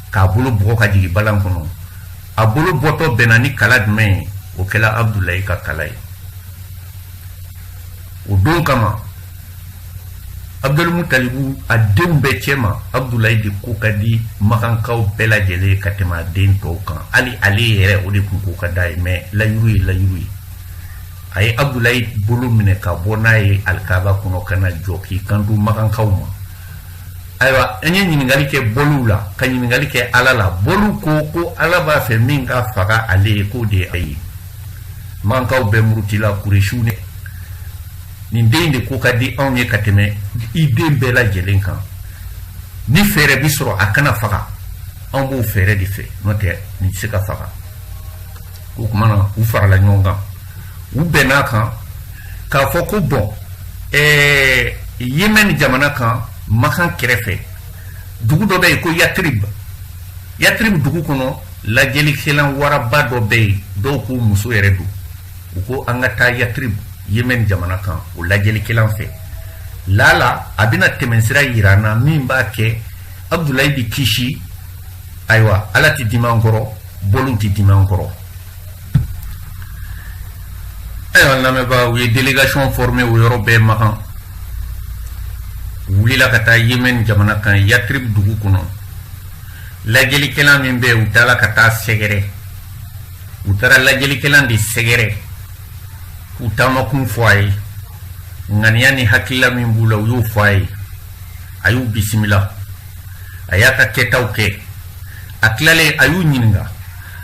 k'a bolo bugɔ ka jigin balan kɔnɔ a bolo bɔtɔ bɛnna ni kala jumɛn ye o kɛla abudulayi ka kala ye o don kama abudulmutalibu a denw bɛɛ cɛma abudulayi de ko ka di makankaw bɛɛ lajɛlen ka tɛmɛ a den tɔw kan hali ale yɛrɛ o de tun ko ka d'a ye mɛ layiru ye layiru ye a ye abudulayi bolo minɛ ka bɔ n'a ye alikaba kɔnɔ ka na jɔ k'i kanto makankaw ma ayiwa an ye ɲininkali kɛ boliw la ka ɲininkali kɛ ala la boliw ko ko ala b'a fɛ min ka faga ale ye k'o de ye a ye makankaw bɛɛ murutila kuresiw ne nin den de ko ka di anw ye ka tɛmɛ i den bɛɛ lajɛlen kan ni fɛɛrɛ bi sɔrɔ a kana faga anw b'o fɛɛrɛ de fɛ n'o tɛ nin tɛ se ka faga o kuma na u farala ɲɔgɔn kan u bɛnn'a kan k'a fɔ ko bɔn ɛɛ yemɛni jamana kan makan kɛrɛfɛ dugu dɔ bɛ yen ko yatirib yatirib dugu kɔnɔ lajɛlikɛlan waraba dɔ bɛ yen dɔw ko muso yɛrɛ don u ko an ka taa yatirib yemɛni jamana kan o lajɛlikɛlan fɛ lala a bɛna tɛmɛnsira yira an na min b'a kɛ abudulayi bi kisi ayiwa ala tɛ dimi an kɔrɔ boliw tɛ dimi an kɔrɔ Ayiwa lamɛnbaa u ye délégation formé o yɔrɔ bɛɛ makan u wulila ka taa Yémen jamana kan Yatrib dugu kɔnɔ lajɛlikɛlan min bɛ u taara ka taa sɛgɛrɛ u taara lajɛlikɛlan de sɛgɛrɛ k'u taamakun fɔ a ye ŋaniya ni hakilila min b'u la u y'o fɔ a ye a y'u bisimila a y'a ka kɛtaw kɛ a tilalen a y'u ɲininka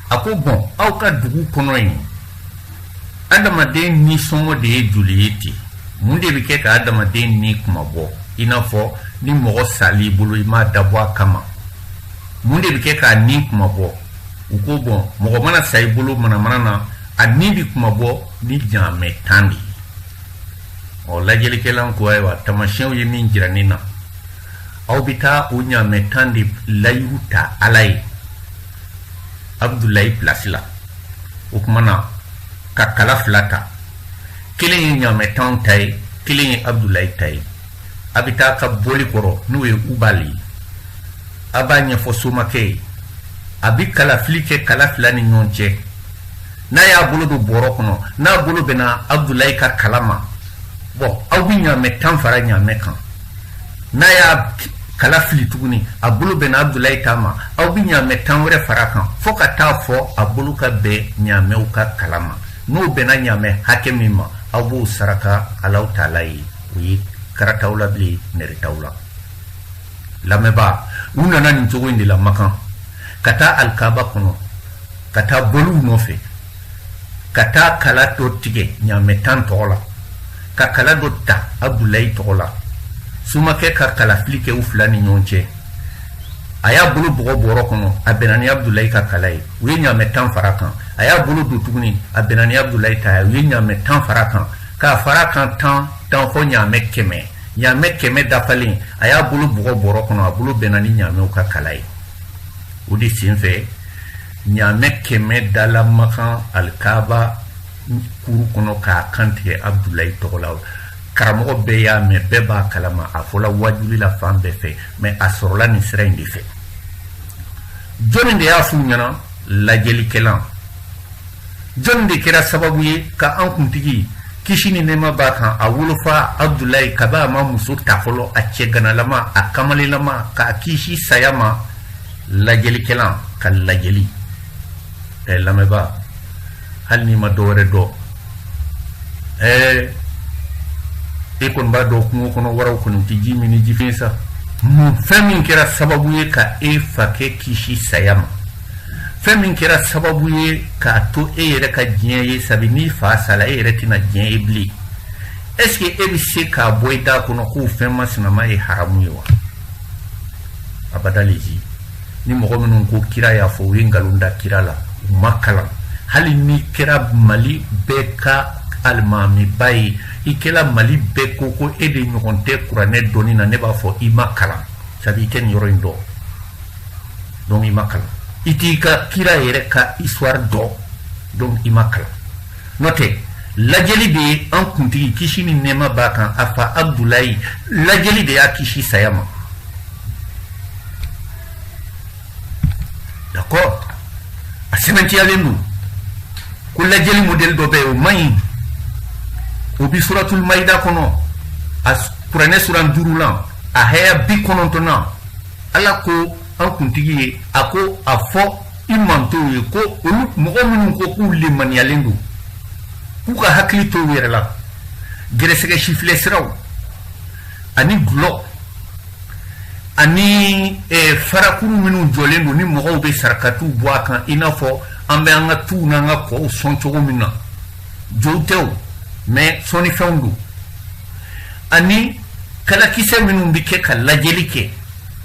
a ko bɔn aw ka dugu kɔnɔ yen adamaden ni sɔngɔ de ye joli ye ten mun de bɛ kɛ ka adamaden ni kunmabɔ i n'a fɔ ni mɔgɔ sal'i bolo i m'a dabɔ a kama mun de bɛ kɛ k'a ni kunmabɔ u ko bɔn mɔgɔ mana sa i bolo manamana na a ni bɛ kunmabɔ ni ɲaamɛ tan de ye ɔ lajɛlikɛlan ko ayiwa tamasiyɛnw ye min jira ne na aw bɛ taa o ɲaamɛ tan de layiru ta ala ye abudulayi pilasi la o tuma na ka kala fila ta kelen ye ɲamɛ tan ta ye kelen ye abudulayi ta ye a bɛ taa ka boli kɔrɔ n'o ye ubali ye a b'a ɲɛfɔ somakɛ ye a bɛ kalafili kɛ kala fila ni ɲɔgɔn cɛ n'a y'a bolo don bɔrɔ kɔnɔ n'a bolo bɛnna abudulayi ka kala ma bɔn aw bɛ ɲamɛ tan fara ɲamɛ kan n'a y'a kala fili tuguni a bolo bɛnna abudulayi ta ma aw bɛ ɲaamɛ tan wɛrɛ fara kan fo ka taa fo a bolo ka bɛn ɲaamɛw ka kala ma n'o bɛnna ɲaamɛ hakɛ min ma aw b'o saraka alaw taala ye o ye karataw la bilen nɛrɛtaw la lamɛnbaa u nana nin cogo in de la makan ka taa alikaba kɔnɔ ka taa boliw nɔfɛ ka taa kala dɔ tigɛ ɲaamɛ tan tɔgɔ la ka kala dɔ ta abudulayi tɔgɔ la somakɛ ka kalafili kɛ u fila ni ɲɔgɔn cɛ a y'a bolo bugɔ bɔrɔ kɔnɔ a bɛnna ni abudulayi ka kala ye u ye ɲaamɛ tan fara kan a y'a bolo don tuguni a bɛnna ni abudulayi ta ye u ye ɲaamɛ tan fara kan k'a fara kan tan tan fo ɲaamɛ kɛmɛ ɲaamɛ kɛmɛ dafalen a y'a bolo bugɔ bɔrɔ kɔnɔ a bolo bɛnna ni ɲaamɛw ka kala ye o de senfɛ ɲaamɛ kɛmɛ dala makan alikaaba kuru kɔnɔ k'a kantigɛ abudulayi tɔgɔ la karamɔgɔ bɛɛ y'a mɛn bɛɛ b'a kalama a fɔla waajuli la fan bɛɛ fɛ mɛ a sɔrɔla nin sira in de fɛ jɔnni de y'a f'u ɲɛna lajɛlikɛlan jɔnni de kɛra sababu ye ka an kuntigi kisi ni nɛɛma b'a kan a wolofa abudulayi kabi a ma muso ta fɔlɔ a cɛganalama a kamalelama k'a kisi saya ma lajɛlikɛla ka lajɛli ɛ eh, lamɛnba hali n'i ma dɔ wɛrɛ dɔn ɛɛ eh, e kɔni b'a dɔn kungo kɔnɔ waraw kɔni tɛ ji min ni jifiɲɛ sa mun fɛn min kɛra sababu ye ka e fa kɛ kisi saya ma fɛn min kɛra sababu ye k'a to e yɛrɛ ka diɲɛ ye sabi n'i fa sala e yɛrɛ tɛna diɲɛ ye bilen est ce que e bɛ se k'a bɔ i da kɔnɔ k'o fɛn masinama ye haramu ye wa abada lehi ni mɔgɔ minnu ko kira y'a fɔ u ye nkalon da kira la u ma kalan hali n'i kɛra mali bɛɛ ka alimamiba ye i kɛra mali bɛɛ ko ko e de ɲɔgɔn tɛ kuranɛ dɔnni na ne b'a fɔ i ma kalan sabi i tɛ nin yɔrɔ in dɔn donc i ma kalan i t'i ka kira yɛrɛ ka histoire dɔn donc i ma kalan N'o tɛ lajɛli de ye an kuntigi kisi ni nɛɛma b'a kan a fa Abudulayi lajɛli de y'a kisi saya ma d'accord a sɛbɛntiyalen don ko lajɛli modɛli dɔ bɛ yen o man ɲi o bi suratul mayida kɔnɔ a kuranɛ suran duurulan a haya bi kɔnɔntɔnnan ala ko an kuntigi ye a ko a fɔ i mantɔnw ye ko olu mɔgɔ minnu ko k'u lemaniyalen don k'u ka hakili to u yɛrɛ la gɛrɛsɛgɛ sifilɛ siraw ani dɔlɔ ani eh, farakuru minnu jɔlen don ni mɔgɔw bɛ sarakatiw bɔ a kan i n'a fɔ an bɛ an ka tuw n'an ka kɔw sɔn cogo min na jow tɛ o mais sɔnnifɛnw don ani kalakisɛ minnu bɛ kɛ ka lajɛli kɛ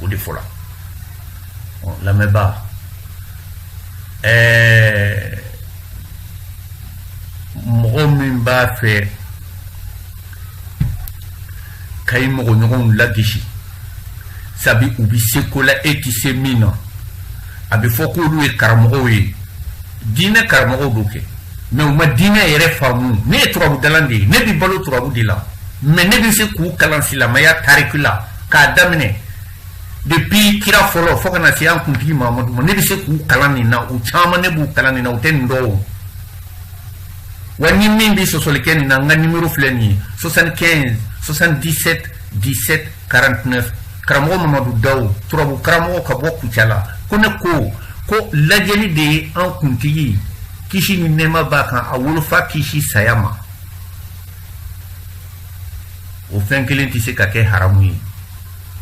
o de fɔla lamɛnbaa ɛɛ mɔgɔ min b'a fɛ ka i mɔgɔɲɔgɔnw lagosi sabi u bi se ko la e ti se min na a bɛ fɔ k'olu ye karamɔgɔw ye diinɛ karamɔgɔw don kɛ mais u ma diinɛ yɛrɛ faamu ne ye turabudala de ye ne bi balo turabu de la mais ne bɛ se k'u kalan silamɛya tariki la k'a daminɛ depuis kira fɔlɔ fo kana se an kuntigi mahamadu ma ne bɛ se k'u kalan nin na u caman ne b'u kalan nin na u tɛ nin dɔn o wa ni min bɛ sɔsɔli kɛ nin na n ka nimero filɛ nin ye 75 77 17 49 karamɔgɔ mamadu daw turabu karamɔgɔ ka bɔ kucala ko ne ko ko lajɛli de ye an kuntigi kisi ni nɛɛma b'a kan a wolofa kisi saya ma o fɛn kelen tɛ se ka kɛ haramu ye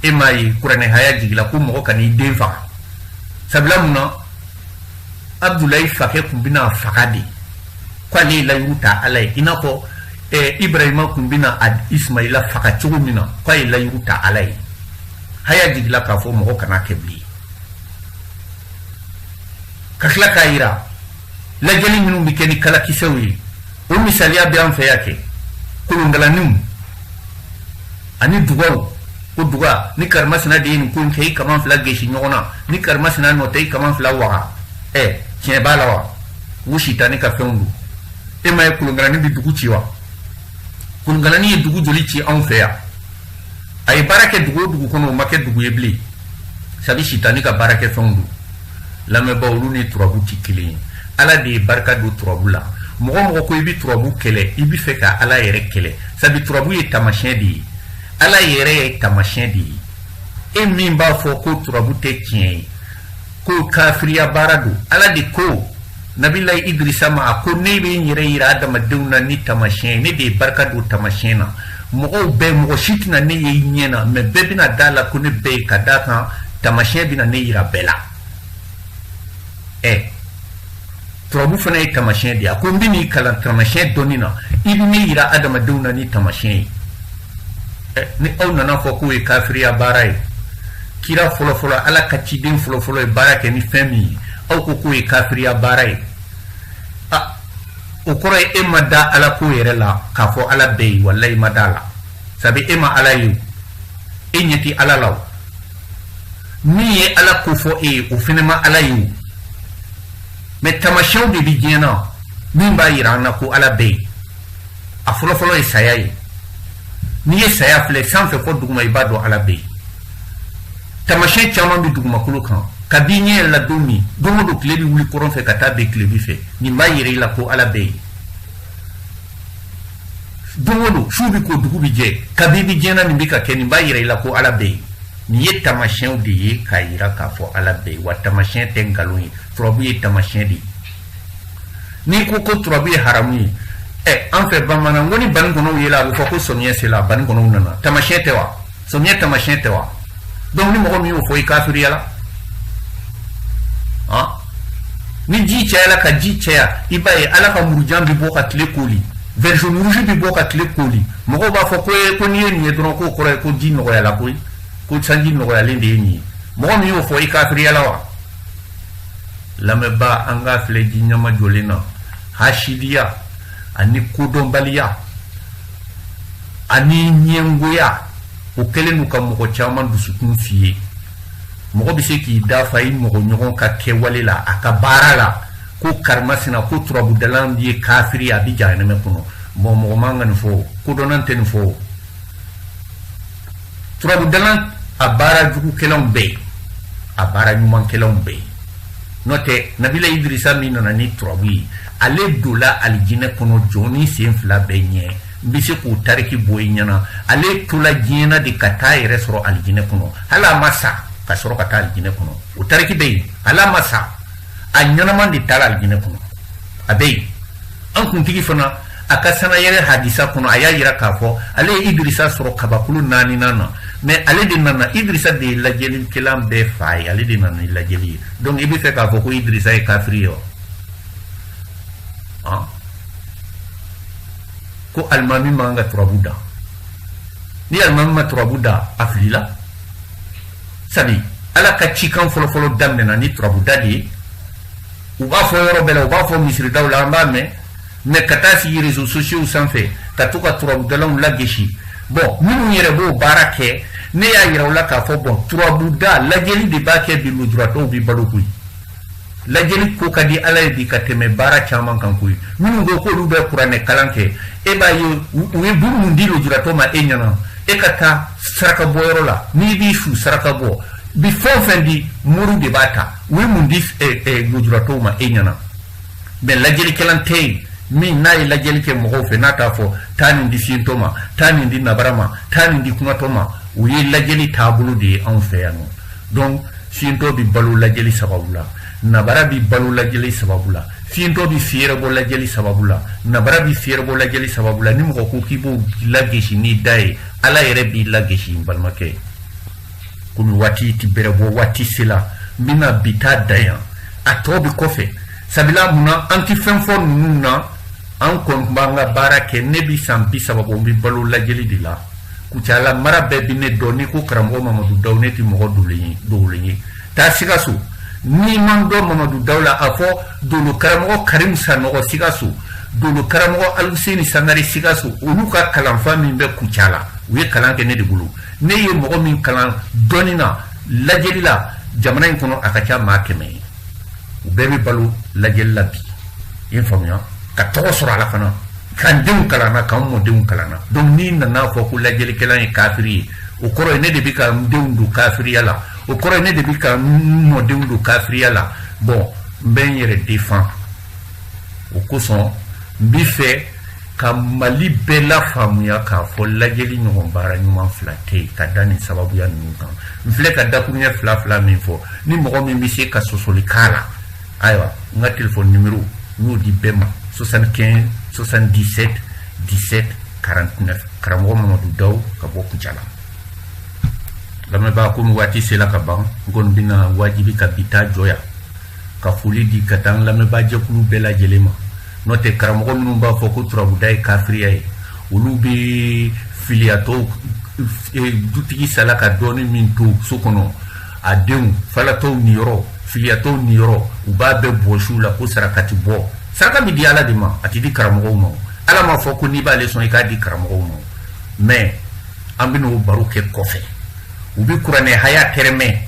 e m'a ye kuranɛ haya jigila ko mɔgɔ kan'i den faga sabula mun na abudulayi fakɛ kun bɛna faga de k'ale ye layiru ta ala ye i n'a fɔ eh, ibrahima kun bɛna ismaila faga cogo min na k'a ye layiru ta ala ye haya jigila k'a fɔ mɔgɔ kana kɛ bilen ka tila k'a yira lajɛli minnu bɛ kɛ ni kalakisɛw ye o misaliya bɛ an fɛ yan kɛ kolongalaniw ani dugaw ko duga ni karimasina de ye nin ko in kɛ i kaman fila gesi ɲɔgɔn na ni karimasina nɔ tɛ i kaman fila waga ɛ tiɲɛ b'a la wa u sitani ka fɛnw don e m'a ye kolongalani bɛ dugu ci wa kolongalani ye dugu joli ci anw fɛ yan a ye baara kɛ dugu o dugu kɔnɔ o ma kɛ dugu ye bilen sabi sitani ka baara kɛ fɛnw don lamɛnbaaw olu ni turabu tɛ kelen ye ala de ye barika don turabu la mɔgɔ o mɔgɔ ko i bɛ turabu kɛlɛ i bɛ fɛ ka ala yɛrɛ kɛlɛ sabi turabu ye tamasiyɛn de ye ala yɛrɛ ye tamasiyɛn de ye e min b'a fɔ ko turabu tɛ tiɲɛ ye ko kafiriya baara don ala de ko nabilayi idrisa ma a ko ne bɛ n yɛrɛ yira adamadenw na ni tamasiyɛn ye ne de ye barika don tamasiyɛn na mɔgɔw bɛɛ mɔgɔ si tɛna ne ye i ɲɛ na mais bɛɛ bɛna da a la ko ne bɛ yen ka d'a kan tamasiyɛn bɛna ne yira bɛɛ la ɛ turabu fana ye tamasiyɛn de ye a ko n bɛn'i kalan tamasiyɛn dɔnni na i bɛ ne yira adamadenw na ni tamasiyɛn ye ni aw nan'a fɔ k'o ye kafiriya baara ye kira fɔlɔfɔlɔ ala ka ciden fɔlɔfɔlɔ ye baara kɛ ni fɛn min ye aw ko k'o ye kafiriya baara ye a o kɔrɔ ye e ma da ala ko yɛrɛ la k'a fɔ ala bɛ yen walayi i ma da a la sabi e ma ala ye e ɲɛ tɛ ala la o min ye ala ko fɔ e ye o fɛnɛ ma ala ye o mais tamasiyɛnw de bi diɲɛ na min b'a yira an na ko ala bɛ yen a fɔlɔfɔlɔ ye saya ye n'i ye saya filɛ sanfɛ fɔ duguma i b'a dɔn ala bɛ yen tamasiyɛn caman bɛ dugumakolo kan kab'i ɲɛ yɛlɛla don min don o don tile bɛ wuli kɔrɔn fɛ ka taa bin tilebi fɛ nin b'a yira i la ko ala bɛ yen don o don su bɛ ko dugu bɛ jɛ kab'i bɛ diɲɛ na nin bɛ ka kɛ nin b'a yira i la ko ala bɛ yen nin ye tamasiyɛnw de ye k'a yira k'a fɔ ala bɛ yen wa tamasiyɛn tɛ nkalon ye turabu ye tamasiyɛn de ye n'i ko ko turabu ye haramu ye ɛ an fɛ bamanan ko ni banikɔnɔw yela a bɛ fɔ ko samiyɛ sela banikɔnɔw nana tamasiyɛn tɛ wa samiyɛ tamasiyɛn tɛ wa donc ni mɔgɔ min y'o fɔ i kafiriyala han ni ji cayala ka ji caya i b'a ye ala ka murujan bɛ bɔ ka tile koli version rouge bɛ bɔ ka tile koli mɔgɔw b'a fɔ ko ye ko n'i ye nin ye dɔrɔn k'o kɔrɔ ye ko ji nɔgɔyala koyi ko sanji nɔgɔyalen de ye nin ye mɔgɔ min y'o fɔ i kafiriyala wa lamɛnbaa an k'a filɛ diɲɛ ma jɔlen na hasidiya ani kodɔnbaliya ani ɲɛngoya o kɛlen don ka mɔgɔ caman dusukun fiye mɔgɔ bɛ se k'i da fa i mɔgɔ ɲɔgɔn ka kɛwale la a ka baara la ko karimasina ko turabudalan ye kafiri a bɛ jahanɛmɛ kɔnɔ bon mɔgɔ man ka nin fɔ kodɔnnan tɛ nin fɔ turabudalan a baara jugukɛlanw bɛ yen a baara ɲumankɛlanw bɛ yen n'o tɛ nabila idirisa min nana ni turabu ye ale donla alijinɛ kɔnɔ jɔnnin sen fila bɛɛ ɲɛ n bɛ se k'o tariki bɔ i ɲɛna ale tola diɲɛ na de ka taa yɛrɛ sɔrɔ alijinɛ kɔnɔ hali a ma sa ka sɔrɔ ka taa alijinɛ kɔnɔ o tariki bɛ yen hali a ma sa a ɲɛnama de taara alijinɛ kɔnɔ a bɛ yen an kuntigi fana a ka sanayɛrɛ hadisa kɔnɔ a y'a yira k'a fɔ ale ye idirisa sɔrɔ kabakulu naaninan na mais ale de nana idirisa de ye lajɛlikɛlan bɛɛ fa ye ale de nana ni lajɛli ye donc i bɛ fɛ k'a fɔ ko idirisa ye kafiri ye wa ah. ko alimami man ka turabu da ni alimami ma turabu da a filila sabu ala ka cikan fɔlɔfɔlɔ daminɛna ni turabuda de ye u b'a fɔ yɔrɔ bɛɛ la u b'a fɔ misiridaw la an b'a mɛn mais ka taa sigi réseaux sociaux sanfɛ ka to ka turabudalaw lagosi bon minnu yɛrɛ b'o baara kɛ ne y'a yira u la k'a fɔ bon turabuda lajɛli de b'a kɛ bi lujuratɔw bi balo koyi lajɛli ko ka di ala ye bi ka tɛmɛ baara caman kan koyi minnu ko k'olu bɛ kuranɛ kalan kɛ e b'a ye u ye buru mun di lujuratɔ ma e ɲɛna e ka taa saraka bɔyɔrɔ la n'i b'i su saraka bɔ bi fɛn o fɛn di mori de b'a ta u ye mun di lujuratɔw ma e ɲɛna mais lajɛlikɛlan tɛ yen min n'a ye lajɛli kɛ mɔgɔw fɛ n'a t'a fɔ taa nin di fiyentɔ ma taa nin di nabara ma taa nin di kunatɔ ma o ye lajɛli taabolo de ye anw fɛ yan nɔ donc fiyentɔ bi balo lajɛli sababu la nabara bi balo lajɛli sababu la fiyentɔ bi fiyɛrɛbɔ lajɛli sababu la nabara bi fiyɛrɛbɔ lajɛli sababu la ni mɔgɔ ko k'i b'o lagesi n'i da ye ala yɛrɛ b'i lagesi n balimakɛ ye komi waati ti bɛrɛ bɔ waati sela n bɛna bi ta dan yan a tɔ bɛ kɔfɛ sabula mun na an ti fɛn fɔ ninnu na an kɔni tun b'an ka baara kɛ ne bi san bi saba bɔ n bɛ balo lajɛli de la kucala mara bɛɛ bi ne dɔn n'i ko karamɔgɔ mamadu daw ne ti mɔgɔ dolen ye dogolen ye taa sikaso n'i ma n dɔn mamadu daw la a fɔ dolo karamɔgɔ karim sanɔgɔ sikaso dolo karamɔgɔ aluseni sangare sikaso olu ka kalanfa min bɛ kucala u ye kalan kɛ ne de bolo ne ye mɔgɔ min kalan dɔnni na lajɛli la jamana in kɔnɔ a ka ca maa kɛmɛ ye u bɛɛ bɛ balo lajɛli la bi i faamuya ka tɔgɔ sɔrɔ a la fana ka n denw kalanna ka n mɔdenw kalanna donc n'i nana fɔ ko lajɛlikɛla ye kafiri ye o kɔrɔ ye ne de bɛ ka n denw don kafiriya la o kɔrɔ ye ne de bɛ ka n mɔdenw don kafiriya la bon n bɛ n yɛrɛ défend o kosɔn n bɛ fɛ ka mali bɛɛ lafaamuya k'a fɔ lajɛli ɲɔgɔn baara ɲuman fila tɛ yen ka da nin sababuya ninnu kan n filɛ ka dakuruɲɛ fila fila min fɔ ni mɔgɔ min bɛ se ka sɔsɔli k'a la ayiwa n ka telefɔni nimero n y'o di bɛɛ ma 75 77 17 49 karamɔgɔ mamadu daw ka bɔ kucala lamɛnbaa komi waati sela ka ban n kɔni bɛna wajibi ka bi ta jɔ yan ka foli di ka taa lamɛnbaajɛkulu bɛɛ lajɛlen ma n'o tɛ karamɔgɔ minnu b'a fɔ ko turabuda ye kafiriya ye olu bɛ filiyatɔw e, dutigi sala ka dɔɔni min to so kɔnɔ a denw falatɔw niyɔrɔ filiyatɔw niyɔrɔ u b'a bɛɛ bɔsi u la ko sarakati bɔ saraka bɛ di ala de ma a tɛ di karamɔgɔw ma ala m'a fɔ ko n'i b'ale sɔn i k'a di karamɔgɔw ma mais an bɛna o baro kɛ kɔfɛ u bɛ kuranɛ haya tɛrɛmɛ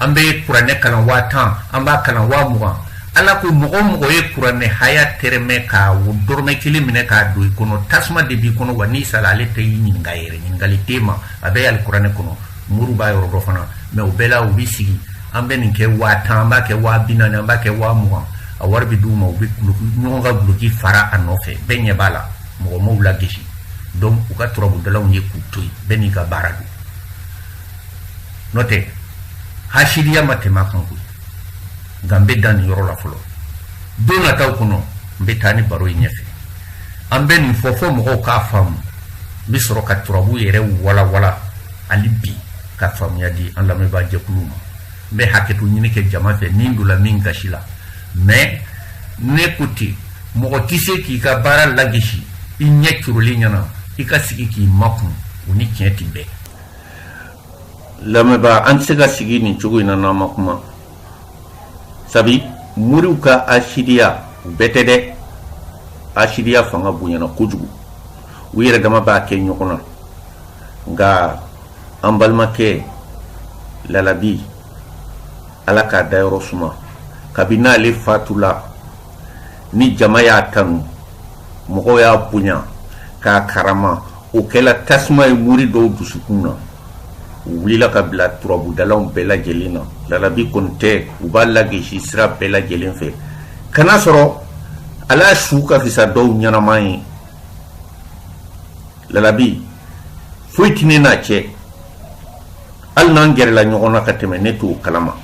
an bɛ kuranɛ kalan waa tan an b'a kalan waa mugan ala ko mɔgɔ o mɔgɔ ye kuranɛ haya tɛrɛmɛ ka dɔrɔmɛ kelen minɛ k'a don i kɔnɔ tasuma de b'i kɔnɔ wa n'i sara ale tɛ i ɲininka yɛrɛ ɲininkali tɛ ma a bɛ alikuranɛ kɔnɔ moriw b'a yɔrɔ dɔn fana mais o bɛɛ la u bɛ sigi an bɛ nin kɛ waa tan an b'a kɛ waa bi naani an b'a kɛ waa mugan a wari bɛ d'u ma u bɛ ɲɔgɔn ka duloki fara a nɔfɛ bɛɛ ɲɛ b'a la mɔgɔ m'u lagosi donc u ka turabudalaw ye k'u to yen bɛɛ n'i ka baara don n'o tɛ hasidiya ma tɛmɛ a kan koyi nka n bɛ dan nin yɔrɔ la fɔlɔ don nataw kɔnɔ n bɛ taa ni baro ye ɲɛfɛ an bɛ nin fɔ fo mɔgɔw k'a faamu n bɛ sɔrɔ ka turabu yɛrɛ walawala hali bi ka faamuya di an lamɛnbaa jɛkulu ma n bɛ hakɛto ɲini kɛ jama fɛ ni n donna min gasi la mais ne ko ten mɔgɔ tɛ se k'i ka baara lagosi i ɲɛ corolen ɲɛna i ka sigi k'i makun o ni tiɲɛ tɛ bɛn lamɛnbaa an tɛ se ka sigi nin cogo in na n'an ma kuma sabi moriw ka asidiya bɛɛ tɛ dɛ asidiya fanga bonyana kojugu u yɛrɛ dama b'a kɛ ɲɔgɔn na nka an balimakɛ lalabi ala k'a dayɔrɔ suma kabini ale fatula ni jama y'a tanu mɔgɔw y'a bonya k'a karama o kɛla tasuma ye mori dɔw dusukun na u wulila ka bila turabudalaw bɛɛ lajɛlen na lalabi kɔni tɛ u b'a lagesi sira bɛɛ lajɛlen fɛ ka n'a sɔrɔ ale su ka fisa dɔw ɲɛnama ye lalabi foyi tɛ ne n'a cɛ hali n'an gɛrɛla ɲɔgɔn na ka tɛmɛ ne t'o kalama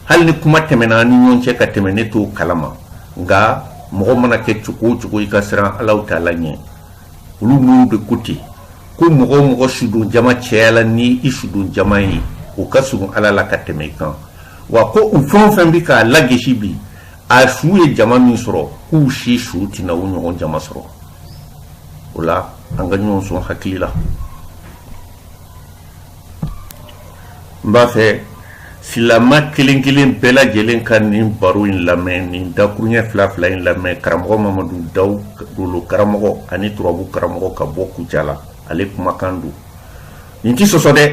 hali ni kuma tɛmɛna an ni ɲɔgɔn cɛ ka tɛmɛ ne t'o kalama nka mɔgɔ mana kɛ cogo o cogo i ka siran ala taala ɲɛ olu minnu de ko ten ko mɔgɔ o mɔgɔ sudon jama cayala ni i sudon jama ye o ka surun ala la ka tɛmɛ i kan wa ko u fɛn o fɛn bɛ k'a lagesi bi a su ye jama min sɔrɔ k'u si su tɛna o ɲɔgɔn jama sɔrɔ o la an ka ɲɔgɔn sɔn hakili la n b'a fɛ silamɛ kelen-kelen bɛɛ lajɛlen ka nin baro in lamɛn nin dakurunɲɛ fila fila in lamɛn karamɔgɔ mamadu daw dolo karamɔgɔ ani turabu karamɔgɔ ka bɔ kucala ale kumakan don nin tɛ sɔsɔ dɛ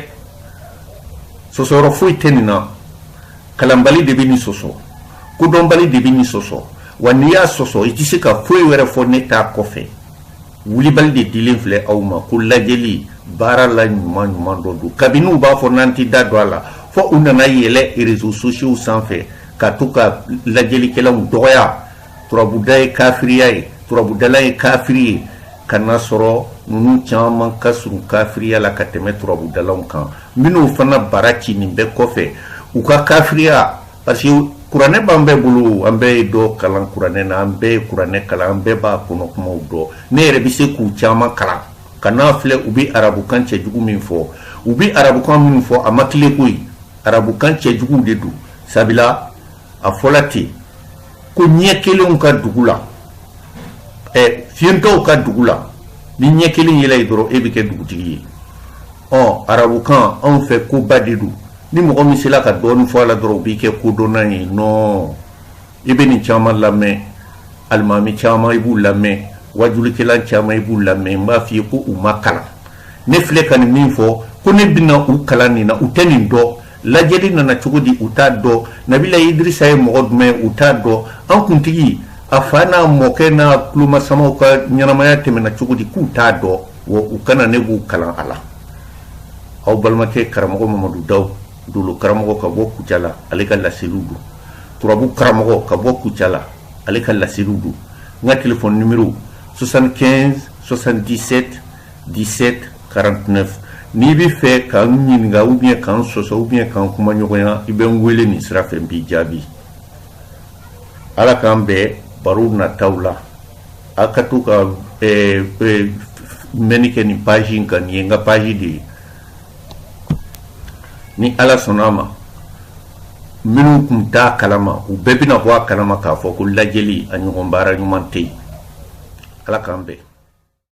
sɔsɔyɔrɔ foyi tɛ nin na kalanbali de bɛ nin sɔsɔ kodɔnbali de bɛ nin sɔsɔ wa n'i y'a sɔsɔ i tɛ se ka foyi wɛrɛ fɔ ne ta kɔfɛ Wulibali de dilen filɛ aw ma ko lajɛli baara la ɲuman ɲuman dɔ don kabini u b'a fɔ n'an tɛ da don a la fɔ u nana yɛlɛn reseaux sociaux sanfɛ ka to ka lajɛlikɛlaw dɔgɔya turabuda ye kafiriya ye turabudala ye kafiri ye ka n'a sɔrɔ ninnu caman ka surun kafiriya la ka tɛmɛ turabudalaw kan minnu fana bara ci nin bɛɛ kɔfɛ u ka kafiriya Parce que kuranɛ b'an bɛɛ bolo an bɛɛ ye dɔ kalan kuranɛ na an bɛɛ ye kuranɛ kalan an bɛɛ b'a kɔnɔ kumaw dɔn ne yɛrɛ bɛ se k'u caman kalan kan'a filɛ u bɛ arabukan cɛjugu min fɔ u bɛ arabukan min fɔ a ma tilen koyi arabukan cɛjugu de don sabula a fɔla ten ko ɲɛ kelenw ka dugu la ɛ fiyentɔw ka dugu la n'i ɲɛ kelen yɛlɛ ye dɔrɔn e bɛ kɛ dugutigi ye ɔ arabukan anw fɛ koba de don ni mɔgɔ min sela ka dɔɔnin fɔ a la dɔrɔn o b'i kɛ kodɔnna ye nɔn i bɛ nin caman lamɛn alimami caman i b'u lamɛn wajulikɛlan caman i b'u lamɛn n b'a f'i ye ko u ma kalan ne filɛ ka nin min fɔ ko ne bɛna u kalan nin na u tɛ nin dɔn Lajɛli nana cogo di u t'a dɔn nabila idirisa ye mɔgɔ jumɛn u t'a dɔn an kuntigi a fa n'a mɔkɛ n'a tulomasamaw ka ɲɛnamaya tɛmɛna cogo di k'u t'a dɔn wa u ka na ne b'u kalan a la aw balimakɛ karamɔgɔ mamadu daw dolo karamɔgɔ ka bɔ kucala ale ka laseliw don turabu karamɔgɔ ka bɔ kucala ale ka laseliw don n ka telefɔni nimero 75 77 1749 n'i bɛ fɛ ka n ɲininka ou bien ka n sɔsɔ ou bien ka n kumaɲɔgɔnya i bɛ n wele nin sira fɛ n b'i jaabi ala k'an bɛn barow nataw la a ka to ka eh, eh, mɛnni kɛ nin paji in kan nin ye n ka paji de ye ni ala sɔnna a ma minnu tun t'a kalama u bɛɛ bɛna bɔ a kalama k'a fɔ ko lajɛli a ɲɔgɔn baara ɲuman tɛ yen ala k'an bɛn